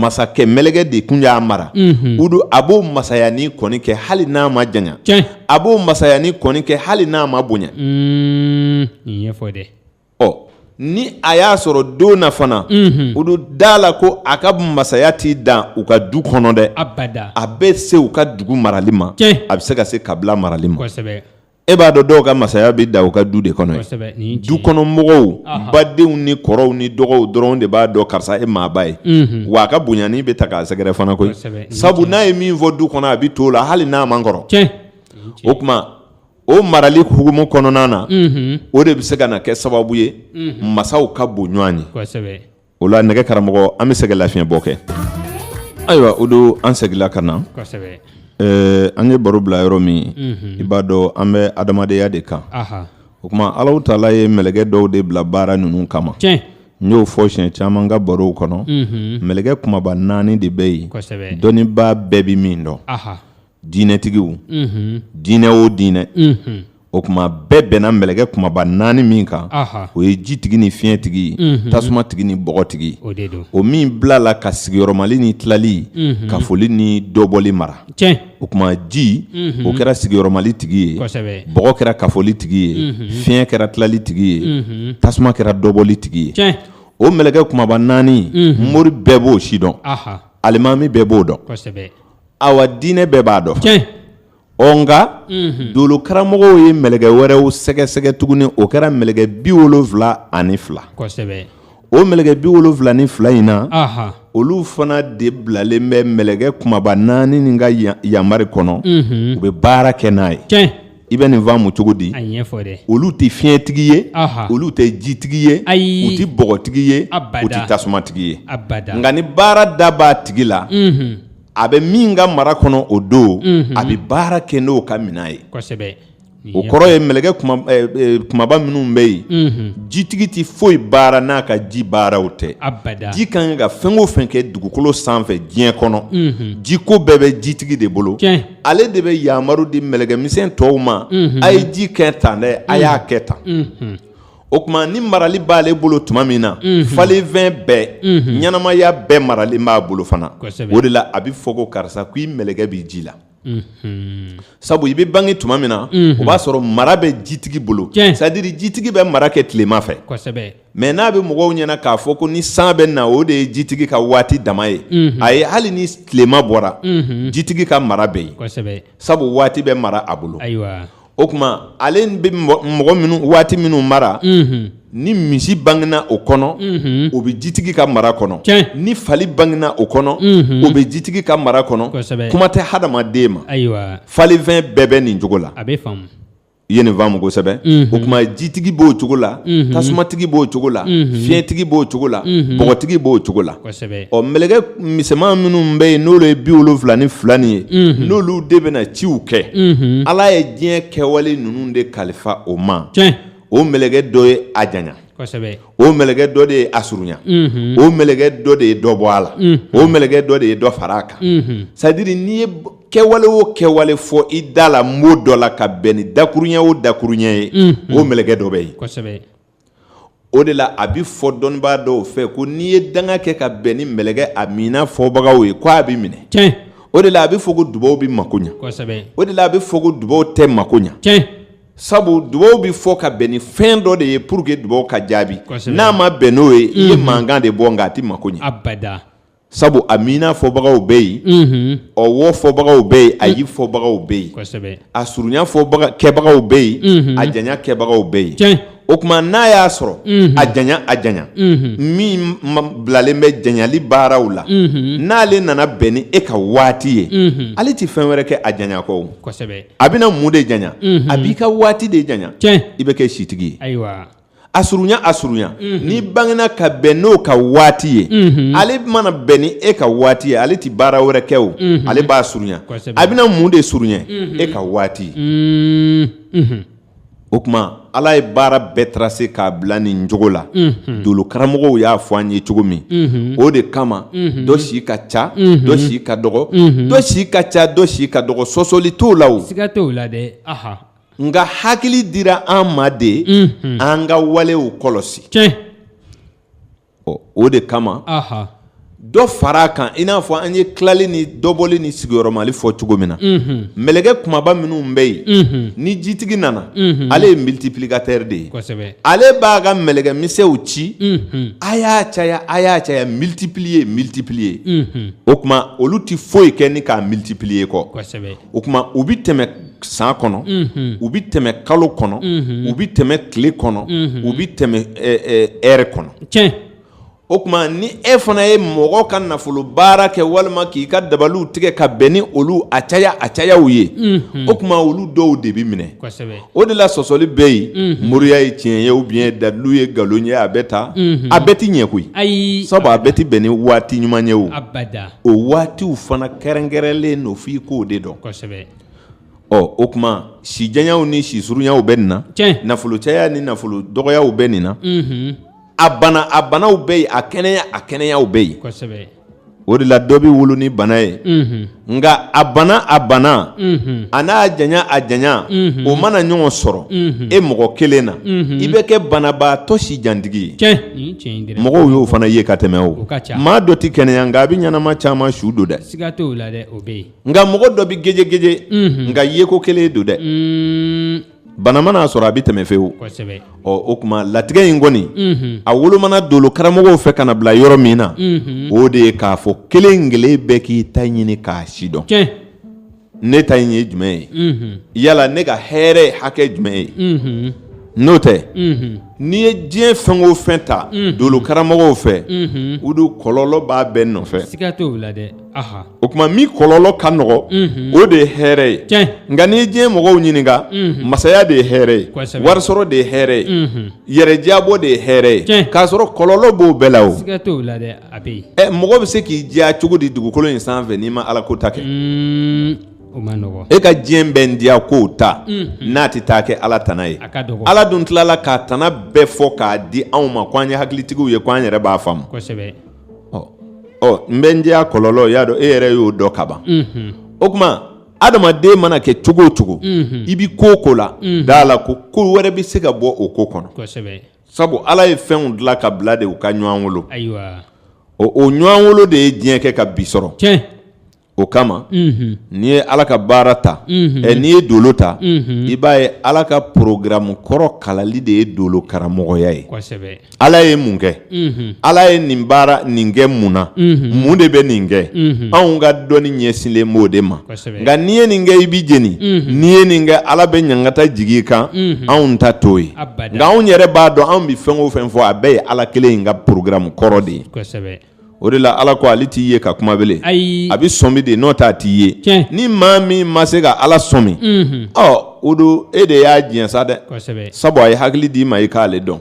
masakɛ mɛlɛkɛ de kun y'a mara o don a b'o masaya nin kɔni kɛ hali n'a ma janya a b'o masaya nin kɔni kɛ hali n'a ma bonya ɲɛfɔ dɛ ɔ ni a y'a sɔrɔ don na fana olu da a la ko a ka masaya t'i dan u ka du kɔnɔ dɛ a bɛ se u ka dugu marali ma a bɛ se ka se kabila marali ma e b'a dɔn dɔw ka masaya b'i dan u ka du de kɔnɔ yen dukɔnɔmɔgɔw badenw ni kɔrɔw ni dɔgɔw dɔrɔn de b'a dɔn karisa ye maaba ye wa a ka bonyani bɛ taa k'a sɛgɛrɛ fana koyi sabu n'a ye min fɔ du kɔnɔ a bɛ to o la hali n'a man kɔrɔ o tuma o marali hukumu kɔnɔna na o de bɛ se ka na kɛ sababu ye masaw ka bon ɲɔgɔn ye o la nɛgɛ karamɔgɔ an bɛ se ka lafiɲɛbɔ kɛ ayiwa o don an seginla ka na an ye baro bila yɔrɔ min i b'a dɔn an bɛ adamadenya de kan o tuma alahu taala ye mɛlɛkɛ dɔw de bila baara ninnu kama n y'o fɔ siɲɛ caman ka barow kɔnɔ mɛlɛkɛ kunbaba naani de bɛ yen dɔnnibaa bɛɛ bɛ min dɔn diinɛtigiw diinɛ o diinɛ o tuma bɛɛ bɛnna mɛlɛkɛ kumaba naani min kan o ye jitigi ni fiɲɛtigi tasumatigi ni bɔgɔtigi o min bilala ka sigiyɔrɔmali ni tilali kafoli ni dɔbɔli mara o tuma ji o kɛra sigiyɔrɔmali tigi ye bɔgɔ kɛra kafoli tigi ye fiɲɛ kɛra tilali tigi ye tasuma kɛra dɔbɔli tigi ye o mɛlɛkɛ kumaba naani mori bɛɛ b'o sidɔn alimami bɛɛ b'o dɔn awa diinɛ bɛɛ b'a dɔn tiɲɛ ɔ nka dolo karamɔgɔw ye mɛlɛkɛ wɛrɛw sɛgɛsɛgɛ tuguni o kɛra mɛlɛkɛ bi wolonfila ani fila kosɛbɛ o mɛlɛkɛ bi wolonfila ni fila in na aha olu fana de bilalen bɛ mɛlɛkɛ kumaba naani nin ka ya- yamari kɔnɔ u bɛ baara kɛ n'a ye tiɲɛ i bɛ nin faamu cogo di olu tɛ fiɲɛtigi ye olu tɛ jitigi ye u tɛ bɔgɔtigi ye u tɛ tasumatigi ye nka ni baara da b'a tigi la a bɛ min ka mara kɔnɔ o don a bɛ baara kɛ n'o ka minɛn ye o kɔrɔ ye mɛlɛkɛ kumaba minnu bɛ yen jitigi tɛ foyi baara n'a ka ji baaraw tɛ ji ka kan ka fɛn o fɛn kɛ dugukolo sanfɛ diɲɛ kɔnɔ jiko bɛɛ bɛ jitigi de bolo ale de bɛ yamaru di mɛlɛkɛ misɛn tɔw ma a ye ji kɛ tan dɛ a y'a kɛ tan o tuma ni marali b'ale bolo tuma min na falenfɛn bɛɛ ɲɛnamaya bɛɛ maralen b'a bolo fana o de la a bɛ fɔ ko karisa ko i mɛlɛkɛ bɛ ji la sabu i bɛ bange tuma min na o b'a sɔrɔ mara bɛ jitigi bolo c'est-à-dire jitigi bɛ mara kɛ tilema fɛ mais n'a bɛ mɔgɔw ɲɛna k'a fɔ ko ni san bɛ na o de ye jitigi ka waati dama ye ayi hali ni tilema bɔra jitigi ka mara bɛ yen sabu waati bɛ mara a bolo o tuma ale bɛ mɔgɔ min waati minnu mara ni misi bangena o kɔnɔ o bɛ jitigi ka mara kɔnɔ ni fali bangena o kɔnɔ o bɛ jitigi ka mara kɔnɔ kuma tɛ hadamaden ma falenfɛn bɛɛ bɛ nin cogo la i ye nin faamu kosɛbɛ o tuma jitigi b'o cogo la tasumatigi b'o cogo la fiɲɛtigi b'o cogo la bɔgɔtigi b'o cogo la ɔ mɛlɛkɛ misɛnman minnu bɛ yen n'olu ye bi wolonfila ni fila nin ye n'olu de bɛna ciw kɛ ala ye diɲɛ kɛwale ninnu de kalifa o ma o mɛlɛkɛ dɔ ye a janya o mɛlɛkɛ dɔ de ye a surunya o mɛlɛkɛ dɔ de ye dɔ bɔ a la o mɛlɛkɛ dɔ de ye dɔ fara a kan c'est-à-dire n'i ye kɛwale o kɛwale fɔ i da la mot dɔ la ka bɛn ni dakuruɲɛ o dakuruɲɛ ye o mɛlɛkɛ dɔ bɛ yen o de la a bɛ fɔ dɔnnibaa dɔw fɛ ko n'i ye danga kɛ ka bɛn ni mɛlɛkɛ amiina fɔbagaw ye k'a bɛ minɛ o de la a bɛ fɔ ko dubaw bɛ mako ɲɛ o de la a bɛ fɔ ko dubaw tɛ mako ɲɛ sabu dubaw bɛ fɔ ka bɛn ni fɛn dɔ de ye pour que dubaw ka jaabi n'a ma bɛn n'o ye i ye mhm. mankan de bɔ nka a tɛ mako ɲɛ abada sabu amiina fɔbagaw bɛ yen mhm. ɔwɔ fɔbagaw bɛ yen ayi mhm. fɔbagaw bɛ yen a surunya kɛbagaw bɛ yen a janya kɛbagaw bɛ yen o tuma n'a y'a sɔrɔ a janya a janya min bilalen bɛ janyali baaraw la n'ale nana bɛn ni e ka waati ye ale tɛ fɛn wɛrɛ kɛ a janya kɔ a bɛna mun de janya a b'i ka waati de janya i bɛ kɛ sitigi ye a surunya a surunya n'i bangena ka bɛn n'o ka waati ye ale mana bɛn ni e ka waati ye ale tɛ baara wɛrɛ kɛ o ale b'a surunya a bɛna mun de surunya e ka waati o tuma ala ye baara bɛɛ tracer k'a bila nin cogo la dolo karamɔgɔw y'a fɔ an ye cogo min o de kama dɔ si ka ca dɔ si ka dɔgɔ dɔ si ka ca dɔ si ka dɔgɔ sɔsɔli t'o la o siga t'o la dɛ nka hakili dira an ma de an ka walew kɔlɔsi ɔ o de kama dɔ fara kan i n'a fɔ an ye tilali ni dɔbɔli ni sigiyɔrɔmali fɔ cogo min na mɛlɛkɛ kumaba minnu bɛ yen ni jitigi nana ale ye multiplicateur de ye ale b'a ka mɛlɛkɛ misɛnw ci a y'a caya a y'a caya multiplier multiplier o tuma olu tɛ foyi kɛ ni k'a multiplier kɔ o tuma u bɛ tɛmɛ san kɔnɔ u bɛ tɛmɛ kalo kɔnɔ u bɛ tɛmɛ tile kɔnɔ u bɛ tɛmɛ heure kɔnɔ ɛ o tuma ni e fana ye mɔgɔ ka nafolo baara kɛ walima k'i ka dabaliw tigɛ ka bɛn ni olu a caya a cayaw ye o tuma olu dɔw de bɛ minɛ o de la sɔsɔli bɛ yen moriya ye tiɲɛ ye ou bien dalilu ye nkalon ye a bɛ taa a bɛɛ tɛ ɲɛ koyi ayi sabu a bɛɛ tɛ bɛn ni waati ɲuman ye o o waatiw fana kɛrɛnkɛrɛnlen don f'i k'o de dɔn kosɛbɛ ɔ o tuma si janyaw ni si surunyaw bɛ nin na Tiɲɛ. nafolo caya ni nafolo dɔgɔyaw bɛ nin na Mhm. a bana a banaw bɛ yen a kɛnɛya a kɛnɛyaw bɛ yen kosɛbɛ o de la dɔ bɛ wolo ni bana ye Mhm. nka a bana a bana Mhm. a n'a janya a janya Mhm. o mana ɲɔgɔn sɔrɔ Mhm. e mɔgɔ kelen na Mhm. i bɛ kɛ banabaatɔ si jantigi ye Tiɲɛ. mɔgɔw y'o fana ye ka tɛmɛ o maa dɔ tɛ kɛnɛya nka a bɛ ɲɛnama caman su don dɛ nka mɔgɔ dɔ bɛ gejegeje nka yeko kelen don dɛ bana mana a sɔrɔ a bɛ tɛmɛ fewu ɔ o tuma latigɛ in kɔni a wolomana dolo karamɔgɔw fɛ ka n'a bila yɔrɔ min na o de ye k'a fɔ kelen kelen bɛɛ k'i ta ɲini k'a sidɔn ne ta in ye jumɛn ye mhm. yala ne ka hɛrɛ hakɛ jumɛn ye mhm. n'o tɛ mhm. n'i ye diɲɛ fɛn o fɛn ta dolokaramɔgɔw fɛ o don kɔlɔlɔ b'a bɛɛ nɔfɛ o tuma min kɔlɔlɔ ka nɔgɔ o de ye hɛrɛ ye nka n'i ye diɲɛ mɔgɔw ɲininka masaya de ye hɛrɛ ye warisɔrɔ de ye hɛrɛ ye yɛrɛdiyabɔ de ye hɛrɛ ye k'a sɔrɔ kɔlɔlɔ b'o bɛɛ la o a bɛ yen ɛ mɔgɔ bɛ se k'i diya cogo di dugukolo in sanfɛ n'i ma ala ko ta kɛ o ma nɔgɔ e ka diɲɛ bɛ n diya ko ta n'a tɛ taa kɛ ala tana ye ala dun tilala k'a tana bɛɛ fɔ k'a di anw ma ko an ye hakilitigiw ye ko an yɛrɛ b'a faamu ɔ n bɛ n diya kɔlɔlɔ y'a dɔn e yɛrɛ y'o dɔn kaban o tuma adamaden mana kɛ cogo o cogo i bɛ ko o ko la d'a la ko ko wɛrɛ bɛ se ka bɔ o ko kɔnɔ sabu ala ye fɛnw dilan ka bila de u ka ɲɔgɔn wolo ayiwa o o ɲɔgɔn wolo de ye diɲɛ kɛ ka bi sɔrɔ tiɲɛ o kama unhun n'i ye ala ka baara ta Mhm. ɛ n'i ye dolo ta Mhm. i b'a ye ala ka porogaramu kɔrɔ kalali de ye dolo karamɔgɔya ye kosɛbɛ ala ye mun kɛ unhun ala ye nin baara nin kɛ mun na Mhm. mun de bɛ nin kɛ Mhm. anw ka dɔnni ɲɛsinlen b'o de ma nka n'i ye nin kɛ i bɛ jeni n'i ye nin kɛ ala bɛ ɲangata jigin i kan anw ta t'o ye nka anw yɛrɛ b'a dɔn anw bɛ fɛn o fɛn fɔ a bɛɛ ye ala kelen in ka porogaramu kɔrɔ de ye o de la ala ko ale t'i ye ka kuma bele a bɛ sɔmi de n'o t'a t'i ye ni maa min ma se ka ala sɔmi ɔ o don e de y'a diɲɛ sa dɛ sabu a ye hakili d'i ma i k'ale dɔn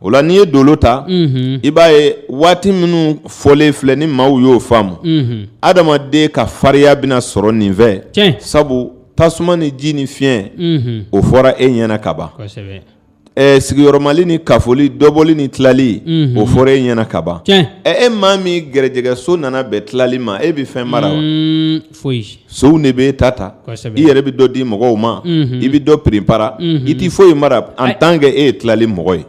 O la n'i ye dolo ta i b'a ye waati minnu fɔlen filɛ ni maaw y'o faamu adamaden ka farinya bɛna sɔrɔ nin fɛ sabu tasuma ni ji ni fiɲɛ o fɔra e ɲɛna kaban sigiyɔrɔmali ni kafoli dɔbɔli ni tilali o fɔra e ɲɛna kaban ɛ e maa min gɛrɛjɛgɛso nana bɛn tilali ma e bɛ fɛn mara wa foyi sonw de b'e ta ta i yɛrɛ bɛ dɔ di mɔgɔw ma i bɛ dɔ piripara i tɛ foyi mara en tant que e ye tilali mɔgɔ ye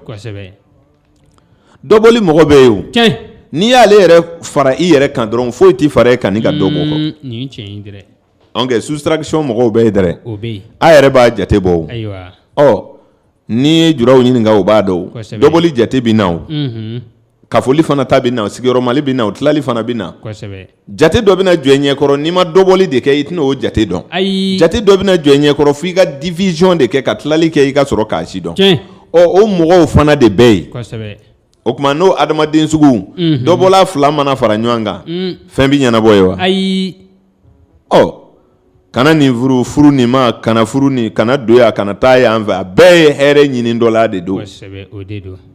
dɔbɔli mɔgɔ bɛ yen n'i y'ale yɛrɛ fara i yɛrɛ kan dɔrɔn foyi tɛ fara e kan ni ka dɔ bɔ kɔ soustraction mɔgɔw bɛ yen dɛrɛ a yɛrɛ b'a jate bɔ ɔ N'i ye juraw ɲininka u b'a dɔn dɔbɔli jate bɛ na kafoli fana ta bɛ na sigiyɔrɔmali bɛ na o tilali fana bɛ na jate dɔ bɛna jɔ i ɲɛkɔrɔ n'i ma dɔbɔli de kɛ i tɛna o jate dɔn ayi jate dɔ bɛna jɔ i ɲɛkɔrɔ fo i ka division de kɛ ka tilali kɛ i ka sɔrɔ k'a si dɔn ɔ o mɔgɔw fana de bɛ yen o tuma n'o adamaden sugu dɔbɔla fila mana fara ɲɔgɔn kan fɛn bɛ ɲɛnabɔ ye wa ayi ɔ kana nin furu furu nin ma kana furu nin kana don yan kana taa yan fɛ a bɛɛ ye hɛrɛ ɲini dɔ la de don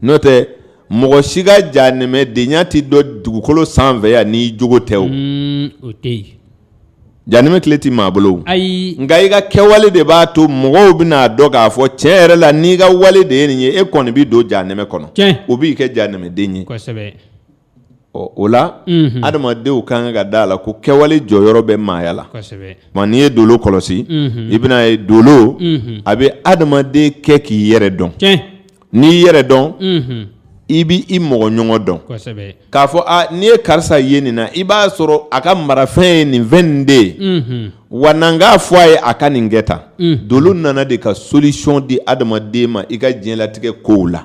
n'o tɛ mɔgɔ si ka janɛmɛdenya tɛ dɔn dugukolo sanfɛ yan n'i jogo tɛ o mm, janɛmɛ kile tɛ maa bolo ayi nka i ka kɛwale de b'a to mɔgɔw bɛna a dɔn k'a fɔ tiɲɛ yɛrɛ la n'i ka wale de ye nin ye e kɔni bɛ don janɛmɛ kɔnɔ o b'i kɛ janɛmɛden ye ɔ o la adamadenw ka kan ka da a la ko kɛwale jɔyɔrɔ bɛ maaya la nka n'i ye dolo kɔlɔsi i bɛna ye dolo a bɛ adamaden kɛ k'i yɛrɛ dɔn n'i yɛrɛ dɔn i bɛ i mɔgɔ ɲɔgɔn dɔn k'a fɔ n'i ye karisa ye nin na i b'a sɔrɔ a ka marafɛn ye nin fɛn nin de ye wa n'an k'a fɔ a ye a ka nin kɛ tan dolo nana de ka solution di adamaden ma i ka diɲɛlatigɛ kow la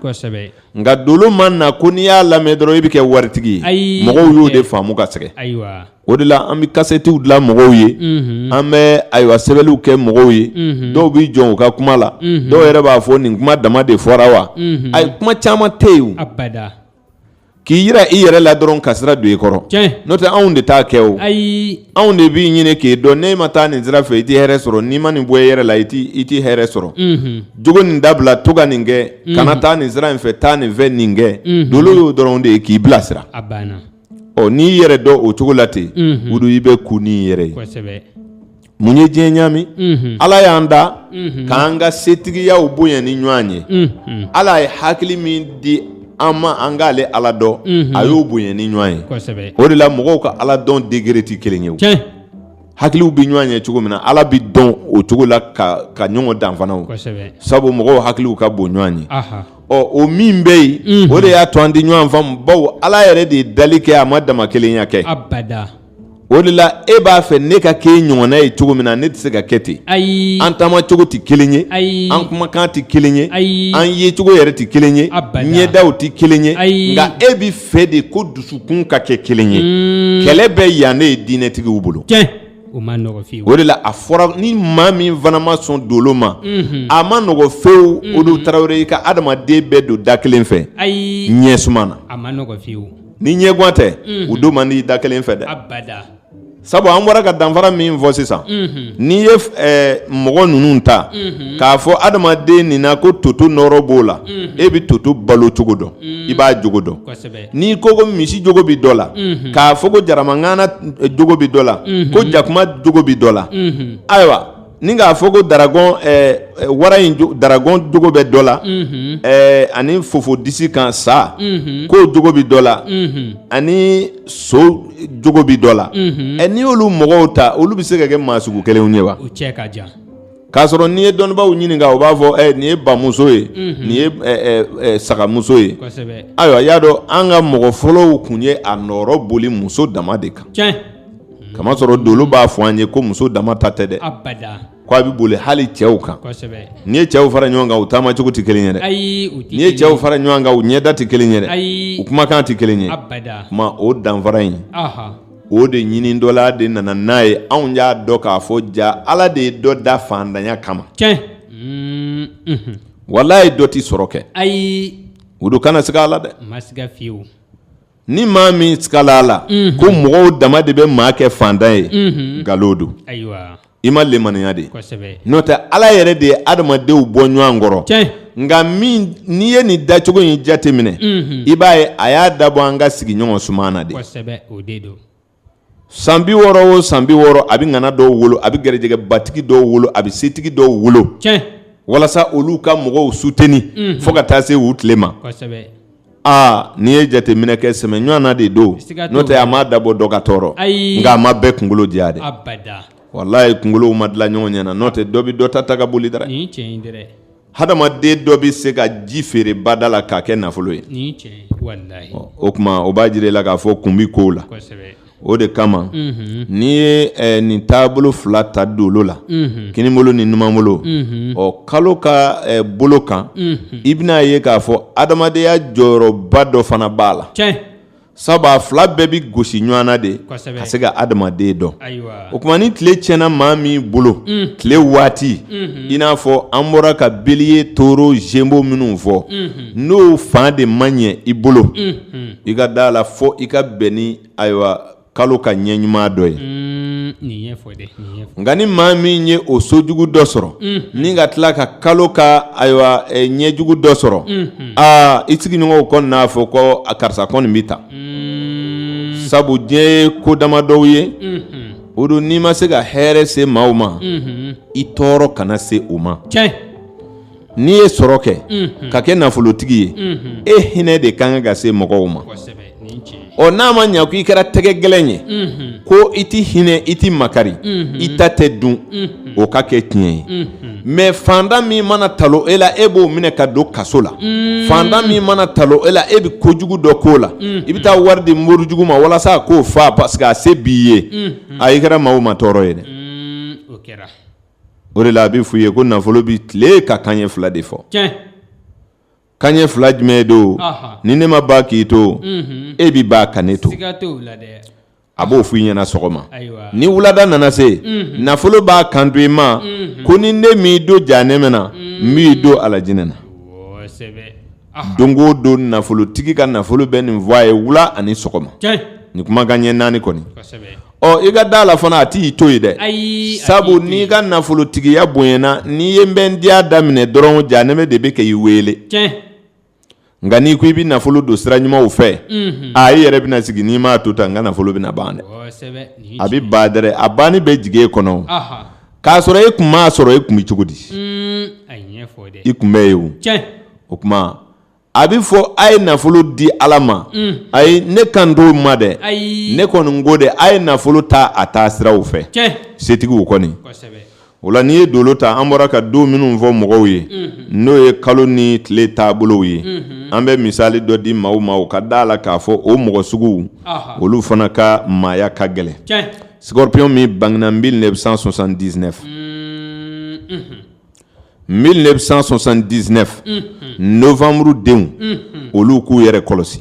nka dolo ma na ko n'i y'a lamɛn dɔrɔn i bɛ kɛ waritigi ye mɔgɔw y'o de faamu ka sɛgɛn ayiwa o de la an bɛ kasɛtiw dilan mɔgɔw ye an bɛ ayiwa sɛbɛnniw kɛ mɔgɔw ye dɔw bɛ jɔ u ka kuma la dɔw yɛrɛ b'a fɔ nin kuma dama de fɔra wa ayi kuma caman tɛ yen k'i yira i yɛrɛ la dɔrɔn ka sira don i kɔrɔ n'o tɛ anw de t'a kɛ o ayi anw de b'i ɲini k'i dɔn n'i ma taa nin sira fɛ i tɛ hɛrɛ sɔrɔ n'i ma nin bɔ i yɛrɛ la i tɛ hɛrɛ sɔrɔ jogo nin dabila to ka nin kɛ kana taa nin sira in fɛ taa nin fɛ nin kɛ dolo y'o dɔrɔn de ye k'i bilasira ɔ n'i yɛrɛ dɔn o cogo la ten wu i bɛ kun ni yɛrɛ ye mun ye diɲɛ ɲami ala y'an da k'an ka setigiyaw bonya ni ɲɔgɔn ye ala ye hakili min di an ma an k'ale ala dɔn a y'o bonya ni ɲɔgɔn ye o de la mɔgɔw ka ala dɔn degré tɛ kelen ye hakiliw bɛ ɲɔgɔn ye cogo min na ala bɛ dɔn o cogo la ka ɲɔgɔn dan fana o sabu mɔgɔw hakiliw ka bon ɲɔgɔn ye ɔ o min bɛ yen o de y'a to an tɛ ɲɔgɔn faamu bawo ala yɛrɛ de ye dali kɛ a ma dama kelenya kɛ o de la e b'a fɛ ne ka kɛ i ɲɔgɔnna ye cogo min na ne tɛ se ka kɛ ten ayi an taama cogo tɛ kelen ye ayi an kumakan tɛ kelen ye ayi an yecogo yɛrɛ tɛ kelen ye ɲɛdaw tɛ kelen ye ayi nka e b'a fɛ de ko dusukun ka kɛ kelen ye kɛlɛ bɛ yan ne ye diinɛtigiw bolo o ma nɔgɔ fewu o de la a fɔra ni maa min fana ma sɔn dolo ma a ma nɔgɔ fewu o de tarawele i ka adamaden bɛɛ don da kelen fɛ ayi ɲɛ suma na a ma nɔgɔ fewu ni ɲɛgwan tɛ u don man di da kelen fɛ dɛ sabu an bɔra ka danfara min fɔ sisan n'i ye mɔgɔ ninnu ta k'a fɔ adamaden nin na ko toto nɔɔrɔ b'o la e bɛ toto balo cogo dɔn i b'a jogo dɔn n'i ko ko misi jogo bɛ dɔ la k'a fɔ ko jaramangana jogo bɛ dɔ la ko jakuma jogo bɛ dɔ la ayiwa Ni k'a fɔ ko daragɔn wara in daragɔn jogo bɛ dɔ la ani fofo disi kan sa k'o jogo bɛ dɔ la ani so jogo bɛ dɔ la ɛ n'i y'olu mɔgɔw ta olu bɛ se ka kɛ maa sugu kelenw ye wa k'a sɔrɔ n'i ye dɔnnibaw ɲininka u b'a fɔ nin ye bamuso ye nin ye sagamuso ye ayiwa y'a dɔn an ka mɔgɔ fɔlɔw tun ye a nɔrɔ boli muso dama de kan k'a masɔrɔ dolo b'a fɔ an ye ko muso dama ta tɛ dɛ ko a bɛ boli hali cɛw kan n'i ye cɛw fara ɲɔgɔn kan u taama cogo tɛ kelen ye dɛ n'i ye cɛw fara ɲɔgɔn kan u ɲɛda tɛ kelen ye dɛ u kumakan tɛ kelen ye kuma o danfara in o de ɲini dɔ la de nana n'a ye anw y'a dɔn k'a fɔ ja ala de ye dɔ da fantanya kama walayi dɔ tɛ sɔrɔ kɛ ayi u dɔ kana siga a la dɛ Ni maa min sigala a la ko mɔgɔw dama de bɛ maa kɛ fantan ye nkalon don i ma lemaniya de n'o tɛ ala yɛrɛ de ye adamadenw bɔ ɲɔgɔn kɔrɔ nka n'i ye nin dacogo in jate minɛ i b'a ye a y'a dabɔ an ka sigiɲɔgɔn suma na de san bi wɔɔrɔ o san bi wɔɔrɔ a bɛ ŋana dɔw wolo a bɛ garijɛgɛ batigi dɔw wolo a bɛ setigi dɔw wolo walasa olu ka mɔgɔw suteni fo ka taa se u tile ma aa n'i ye jateminɛ kɛ sɛmɛ ɲɔgɔn na de don n'o tɛ a ma dabɔ dɔ ka tɔɔrɔ nka a ma bɛɛ kunkolo diya de walayi kunkolow ma dilan ɲɔgɔn ɲɛna n'o tɛ dɔ bɛ dɔ ta ta ka boli dɛrɛ Hadamaden dɔ bɛ se ka ji feere ba da la k'a kɛ nafolo ye o tuma o b'a jira i la k'a fɔ kun bɛ kow la o de kama n'i ye nin taabolo fila ta dolo la kininbolo ni numanbolo ɔ kalo ka bolo kan i bɛna a ye k'a fɔ adamadenya jɔyɔrɔba dɔ fana b'a la sabu a fila bɛɛ bɛ gosi ɲɔgɔn na de ka se ka adamaden dɔn o tuma ni tile tiɲɛna maa min bolo mm. tile waati mm-hmm. i n'a fɔ an bɔra ka Bélier Taureau Gémeaux minnu fɔ mm-hmm. n'o fan de ma ɲɛ i bolo mm-hmm. i ka da la fɔ i ka bɛn ni ayiwa kalo ka ɲɛ ɲuman dɔ ye mm, nka ni maa min ye o so jugu dɔ sɔrɔ ni ka tila ka kalo ka ayiwa ɲɛ jugu dɔ sɔrɔ aa i sigiɲɔgɔnw kɔni n'a fɔ ko a karisa kɔni bɛ ta sabu diɲɛ ye ko dama dɔw ye o don n'i ma se ka hɛrɛ se maaw ma i tɔɔrɔ kana se u ma n'i ye sɔrɔ kɛ ka kɛ nafolotigi ye e hinɛ de ka kan ka se mɔgɔw ma ɔ n'a ma ɲɛ ko i kɛra tɛgɛ gɛlɛn ye ko i tɛ hinɛ i tɛ makari i ta tɛ dun o ka kɛ tiɲɛ ye mais fantan min mana talon e la e b'o minɛ ka don kaso la fantan min mana talon e la e bɛ kojugu dɔ k'o la i bɛ taa wari di morijugu ma walasa k'o faa parce que a se b'i ye a i kɛra maaw ma tɔɔrɔ ye dɛ o de la a bɛ f'i ye ko nafolo bɛ tile ka kanɲɛ fila de fɔ kanɲɛ fila jumɛn don ni ne ma ban k'i to e bɛ ban ka ne to a b'o fɔ i ɲɛna sɔgɔma ni wulada nana se nafolo b'a kanto i ma ko ni ne m'i don janɛmɛ na n b'i don alajinɛ na don o don nafolotigi ka nafolo bɛ nin fɔ a ye wula ani sɔgɔma nin kuma kanɲɛ naani kɔni ɔ i ka da la fana a t'i to yen dɛ Ayi, a t'i to yen. sabu n'i ka nafolotigiya bonyana n'i ye n bɛ n diya daminɛ dɔrɔn janɛmɛ de bɛ kɛ i wele tiɲɛ nka n'i ko i bɛ nafolo don sira ɲumanw fɛ Mhm. a i yɛrɛ bɛna sigi n'i m'a to tan n ka nafolo bɛna ban dɛ kosɛbɛ nin a bɛ ban dɛrɛ a banni bɛ jigin e kɔnɔ aha k'a sɔrɔ e kun m'a sɔrɔ e kun bɛ cogo di Mm, a ye ɲɛfɔ dɛ i kun bɛ yen o tiɲɛ o tuma a bɛ fɔ a ye nafolo di ala ma ayi ne kan t'o ma dɛ ne kɔni ko dɛ a ye nafolo ta a taa siraw fɛ setigiw kɔni o la n'i ye dolo ta an bɔra ka don minnu fɔ mɔgɔw ye n'o ye kalo ni tile taabolow ye an bɛ misali dɔ di maaw ma o ka da a la k'a fɔ o mɔgɔ suguw olu fana ka maaya ka gɛlɛn scorpion min bangena mille neuf cent soixante-dix-neuf neuf cent soixante-dix-neuf nowanburu denw olu k'u yɛrɛ kɔlɔsi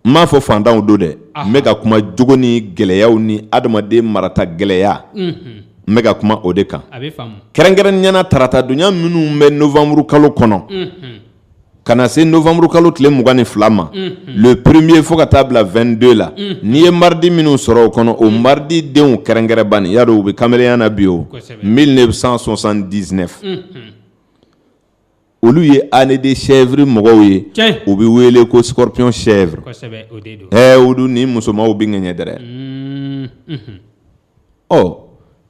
n m'a fɔ fantanw don dɛ n bɛ ka kuma jogo ni gɛlɛyaw ni adamaden marata gɛlɛya n bɛ ka kuma o de kan kɛrɛnkɛrɛnnenya na tarata dunya minnu bɛ nowanburu kalo kɔnɔ ka na se nowanburu kalo tile mugan ni fila ma le premier fo ka taa bila vingt-deux la n'i ye mardi minnu sɔrɔ o kɔnɔ o mardi denw kɛrɛnkɛrɛn bani y'a dɔn u bɛ kamalenya na bi o mille neuf cent soixante-dix-neuf olu ye année de chèvre mɔgɔw ye u bɛ wele ko scorpion chèvre olu ni musomanw bɛ ŋɛɲɛ dɛrɛ ɔ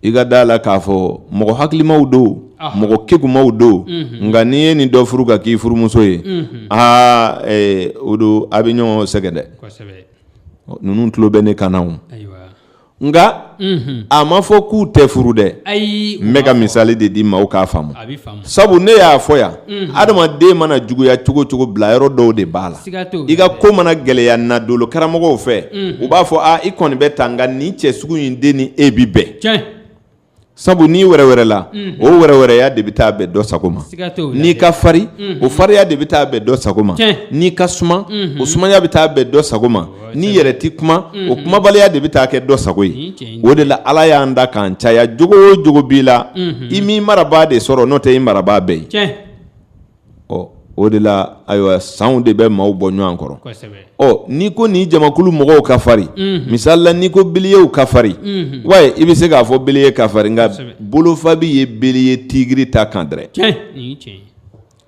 i ka da a la k'a fɔ mɔgɔ hakilimaw don mɔgɔ kegumaw don nka n'i ye nin dɔ furu ka k'i furumuso ye aa o don a bɛ ɲɔgɔn sɛgɛn dɛ ninnu tulo bɛ ne kan na nka a ma fɔ k'u tɛ furu dɛ n bɛ ka misali de di maaw k'a faamu sabu ne y'a fɔ yan adamaden mana juguya cogo cogo bila yɔrɔ dɔw de b'a la i ka ko mana gɛlɛya na dolo karamɔgɔw fɛ u b'a fɔ i kɔni bɛ tan nka nin cɛ sugu in de ni e bɛ bɛn sabu n'i wɛrɛwɛrɛla o wɛrɛwɛrɛya de bɛ taa bɛn dɔ sago ma n'i ka fari o fariya de bɛ taa bɛn dɔ sago ma n'i ka suma o sumaya bɛ taa bɛn dɔ sago ma n'i yɛrɛ tɛ kuma o kumabaliya de bɛ taa kɛ dɔ sago ye o de la ala y'an da k'an caya jogo o jogo b'i la i m'i marabaa de sɔrɔ n'o tɛ i marabaa bɛ yen ɔ o de la ayiwa sanw de bɛ maaw bɔ ɲɔgɔn kɔrɔ ɔ n'i ko nin jamakulu mɔgɔw ka farin misali la n'i ko biliyew ka farin wa i bɛ se k'a fɔ biliye ka farin nka bolofabi ye biliye tigiri ta kan dɛrɛ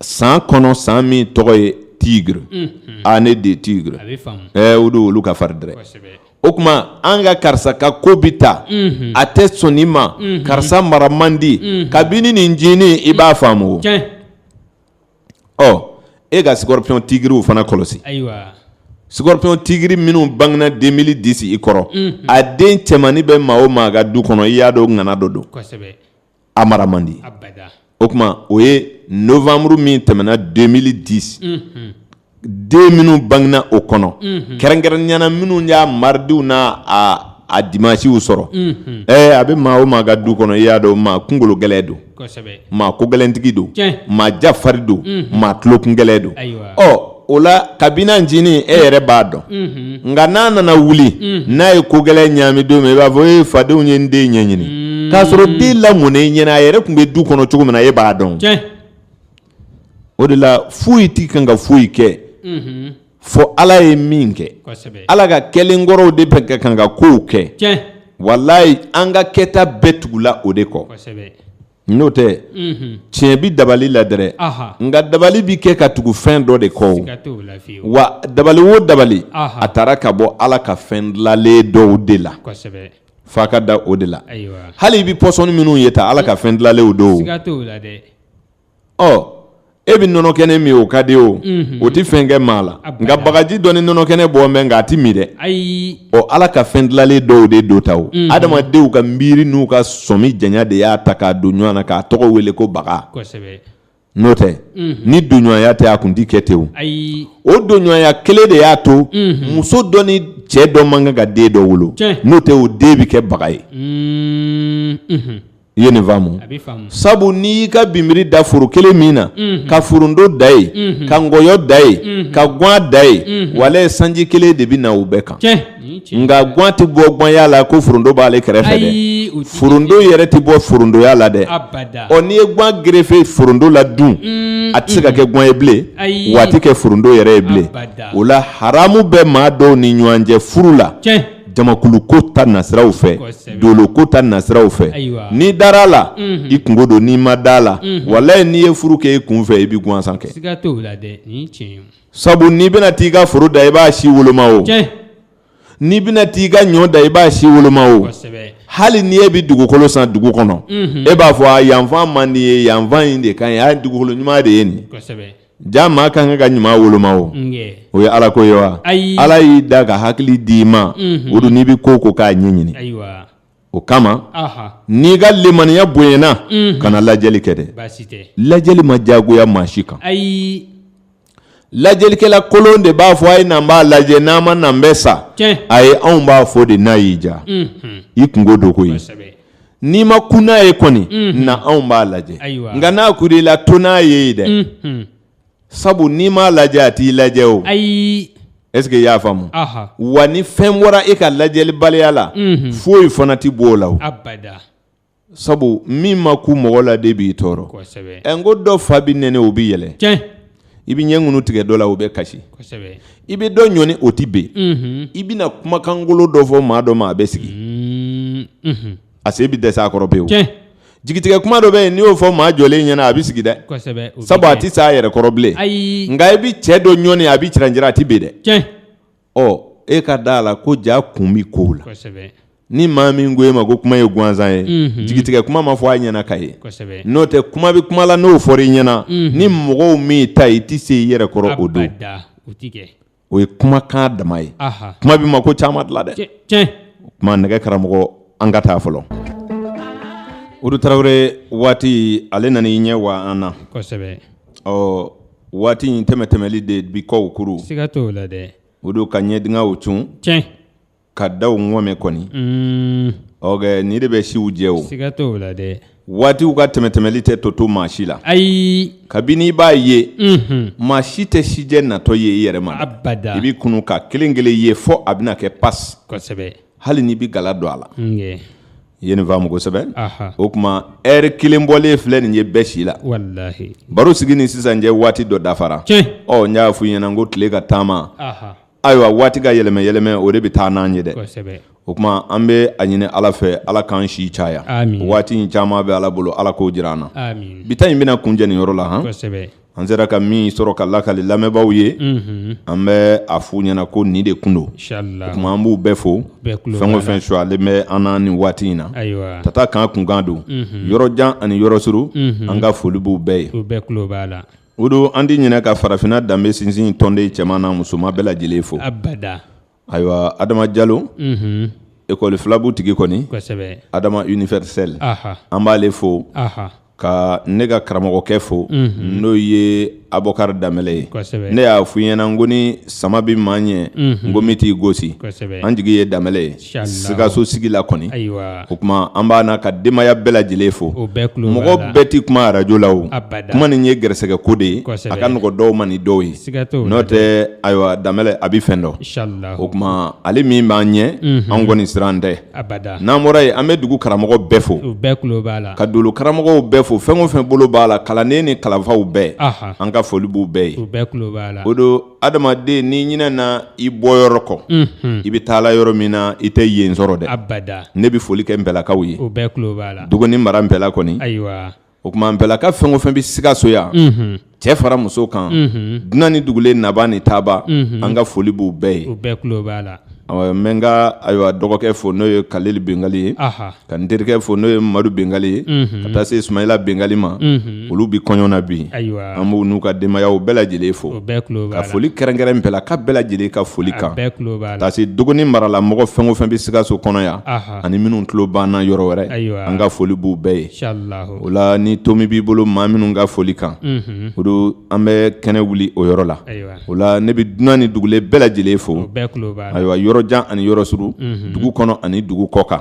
san kɔnɔ san min tɔgɔ ye tigiri année de tigre o don olu ka fari dɛrɛ o tuma an ka karisa ka ko bɛ taa a tɛ sɔn nin ma karisa mara man di kabini nin ncinin i b'a faamu ɔ e ka scorpion tigiriw fana kɔlɔsi scorpion tigiri minnu bangena deux mille dix i kɔrɔ a den cɛmannin bɛ maa o maa ka du kɔnɔ i y'a dɔn ŋana dɔ don a mara man di o tuma o ye nowanburu min tɛmɛna deux mille dix den minnu bangena o kɔnɔ kɛrɛnkɛrɛnnenya na minnu y'a maridiw n'a dimasiw sɔrɔ ɛ a bɛ maa o maa ka du kɔnɔ i y'a dɔn maa kunkolo gɛlɛn don maa ko gɛlɛntigi don maa jafari don maa tulokun gɛlɛn don ɔ o la kabini ncinin e yɛrɛ b'a dɔn nka n'a nana wuli n'a ye ko gɛlɛn ɲaami don min i b'a fɔ e fadenw ye n den ɲɛɲini k'a sɔrɔ den lamɔnen ɲɛna a yɛrɛ tun bɛ du kɔnɔ cogo min na e b'a dɔn o de la foyi t'i kan ka foyi kɛ fɔ ala ye min kɛ ala ka kɛlen kɔrɔw de bɛ ka kan ka kow kɛ walayi an ka kɛta bɛɛ tugula o de kɔ N'o tɛ tiɲɛ bɛ dabali la dɛrɛ nka dabali bɛ kɛ ka tugu fɛn dɔ de kɔ wa dabali wo dabali a taara ka bɔ ala ka fɛn dilanlen dɔw de la fa ka da o de la hali i bɛ pɔsɔni minnu ye ta ala ka fɛn dilanlenw don ɔ e bɛ nɔnɔ kɛnɛ min o ka di o o tɛ fɛn kɛ maa la nka bagaji dɔ ni nɔnɔ kɛnɛ bɔ mɛn nka a tɛ min dɛ ɔ ala ka fɛn dilanlen dɔw de don ta o adamadenw ka miiri n'u ka sɔmi janya de y'a ta k'a don ɲɔgɔn na k'a tɔgɔ wele ko baga n'o tɛ ni donɲɔgɔnya tɛ a kun tɛ kɛ ten o o donɲɔgɔnya kelen de y'a to muso dɔ ni cɛ dɔ man kan ka den dɔ wolo n'o tɛ o den bɛ kɛ baga ye i ye nin faamu sabu n'i y'i ka binbiri da foro kelen min na ka foronto da ye ka nkɔyɔ da ye ka gan da ye walayi sanji kelen de bɛ na u bɛɛ kan nka gan tɛ bɔ ganya la ko foronto b'ale kɛrɛfɛ dɛ foronto yɛrɛ tɛ bɔ forontoya la dɛ ɔ n'i ye gan gerefe foronto la dun a tɛ se ka kɛ gan ye bilen wa a tɛ kɛ foronto yɛrɛ ye bilen o la haramu bɛ maa dɔw ni ɲɔgɔn cɛ furu la jamakulu ko ta nasiraw fɛ dolo ko ta nasiraw fɛ n'i dara a la i kungo don n'i ma da a la walayi n'i ye furu kɛ i kun fɛ i bɛ gansan kɛ sabu n'i bɛna t'i ka foro da i b'a si woloma o n'i bɛna t'i ka ɲɔ da i b'a si woloma o hali ni e bɛ dugukolo san dugu kɔnɔ e b'a fɔ a yanfan man di ye yanfan in de ka ɲi a dugukolo ɲuman de ye nin ja maa ka kan ka ɲuman woloma o o ye ala ko ye wa ala y'i da ka hakili di i ma mhm. o don n'i bɛ ko ko k'a ɲɛɲini o kama n'i ka lemaniya bonyana mhm. kana lajɛli kɛ dɛ lajɛli ma diyagoya maa si kan lajɛlikɛla kolon de b'a fɔ a ye n'an b'a lajɛ n'an ma n'an bɛ sa ayi anw b'a fɔ de n'a y'i diya mhm. i kungo don koyi n'i ma kun n'a ye kɔni na anw b'a lajɛ nka n'a kur'i la to n'a ye dɛ sabu n'i m'a lajɛ a t'i lajɛ o ayi est-ce que i y'a faamu wa ni fɛn bɔra e ka lajɛlibaliya la foyi fana tɛ bɔ o la sabu min ma ku mɔgɔ la de b'i tɔɔrɔ n ko dɔ fa bɛ nɛni o bɛ yɛlɛ i bɛ ɲɛ ŋunu tigɛ dɔ la o bɛ kasi i bɛ dɔ ɲɔni o tɛ ben i bɛna kumakangolo dɔ fɔ maa dɔ ma a bɛ sigi a se bɛ dɛsɛ a kɔrɔ pewu jigitigɛ kuma dɔ bɛ yen n'i y'o fɔ maa jɔlen ɲɛna a bɛ sigi dɛ sabu a tɛ se a yɛrɛ kɔrɔ bilen nka i bɛ cɛ dɔ ɲɔni a bɛ ciranjira a tɛ ben dɛ ɔ e ka da a la ko ja kun bɛ kow la ni maa min ko e ma ko kuma ye gansan ye jigitigɛ kuma ma fɔ a ɲɛna ka ye n'o tɛ kuma bɛ kuma la n'o fɔra i ɲɛna ni mɔgɔw min ta i tɛ se i yɛrɛ kɔrɔ o don o ye kumakan dama ye kuma bɛ mako caman dilan dɛ kuma nɛgɛ karamɔgɔ an ka taa fɔlɔ o tarawele waati ale nana i ɲɛ wa an na ɔ waati in tɛmɛ tɛmɛli de bi kɔw kuru siga t'o la dɛ o don ka ɲɛdingɛw cun tiɲɛ ka daw ŋɔmɛ kɔni mm. ɔkɛ nin de bɛ siw jɛ o siga t'o la dɛ waatiw ka tɛmɛ tɛmɛli tɛ to to maa si la ayi kabini i b'a ye mhm. maa si tɛ sijɛ natɔ ye i yɛrɛ ma abada i bɛ kunun ka kelen kelen ye fɔ a bɛna kɛ pas kosɛbɛ hali n'i bɛ gala don a la I ye nin faamu kosɛbɛ o tuma ɛri kelen bɔlen filɛ nin ye bɛɛ si la baro sigi ni sisan cɛ waati dɔ dafara ɔ n y'a f'i ɲɛna ko tile ka taama ayiwa waati ka yɛlɛmɛ yɛlɛmɛ o de bɛ taa n'an ye dɛ o tuma an bɛ a ɲini ala fɛ ala k'an si caya waati in caman bɛ ala bolo ala k'o jira an na bi ta in bɛna kuncɛ nin yɔrɔ la hɔn an sera ka min sɔrɔ ka lakali lamɛnbaaw ye an bɛ a f'u ɲɛna ko nin de tun don o tuma an b'u bɛɛ fo fɛn o fɛn sulen bɛ an na nin waati in na tata kan kunkan don yɔrɔ jan ani yɔrɔ suru an ka foli b'u bɛɛ ye o don an tɛ ɲinɛ ka farafinna danbe sinsin tɔnden cɛman n'a musoman bɛɛ lajɛlen fo Ayiwa adama jalo ekɔli filabu tigi kɔni adama universel an b'aale fo ka ne ka karamɔgɔkɛ fo n'o ye abukari damɛlɛ ye ne y'a f'i ɲɛna n ko ni sama bɛ maa ɲɛ ngomi t'i gosi an jigi ye damɛlɛ ye sikaso sigi la kɔni o tuma an b'a n'a ka denbaya bɛɛ lajɛlen fo mɔgɔ bɛɛ tɛ kuma arajo la kuma nin ye garisɛgɛ ko de ye a ka nɔgɔ dɔw ma ni dɔw ye n'o tɛ ayiwa damɛlɛ a bɛ fɛn dɔn o tuma ale min b'an ɲɛ an kɔni siran tɛ n'an bɔra yen an bɛ dugu karamɔgɔ bɛɛ fo ka dolo karamɔgɔw bɛɛ fo fɛn o fɛn bolo b'a la kalanden ni kalanfaw bɛɛ an ka foli b'u bɛɛ ye o don adamaden n'i ɲinɛna i bɔ yɔrɔ kɔ i bɛ taala yɔrɔ min na i tɛ yen sɔrɔ dɛ ne bɛ foli kɛ npɛlakaw ye dogoni mara npɛla kɔni o tuma npɛlaka fɛn o fɛn bɛ sikaso yan cɛ fara muso kan dunan ni dugulen naba ni taaba an ka foli b'u bɛɛ ye n bɛ n ka ayiwa dɔgɔkɛ fo n'o ye kaleli bɛngali ye ka n terikɛ fo n'o ye madu bɛngali ye ka taa se sumayila bɛngali ma olu bɛ kɔɲɔ na bi an b'u n'u ka denbaya bɛɛ lajɛlen fo ka foli kɛrɛnkɛrɛn npɛlaka bɛɛ lajɛlen ka foli kan taa se dogoni mara la mɔgɔ fɛn o fɛn bɛ sikaso kɔnɔ yan ani minnu tulo b'an na yɔrɔ wɛrɛ an ka foli b'u bɛɛ ye o la ni tomi b'i bolo maa minnu ka foli kan udu an bɛ kɛnɛ wuli o yɔrɔ la o la ne bɛ dunan ni dugulen bɛɛ lajɛlen fo ayiwa yɔrɔ jan ani yɔrɔ surun dugu kɔnɔ ani dugu kɔkan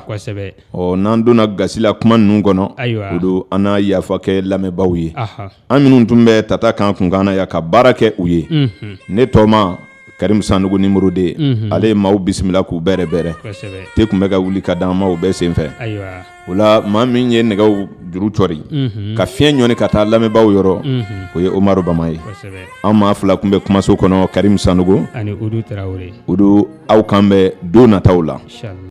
ɔ n'an donna gasi la kuma ninnu kɔnɔ o don an na yafa kɛ lamɛnbaaw ye an minnu tun bɛ tata kan kunkan na yan ka baara kɛ u ye ne tɔma karimu sanogo numéro deux ye ale ye maaw bisimila k'u bɛrɛbɛrɛ te tun bɛ ka wuli ka d'an ma o bɛɛ senfɛ o la maa min ye nɛgɛw juru cɔri ka fiɲɛ ɲɔni ka taa lamɛnbaaw yɔrɔ o ye umaru bama ye an maa fila tun bɛ kumaso kɔnɔ karimu sanogo udu aw kan bɛ don nataw la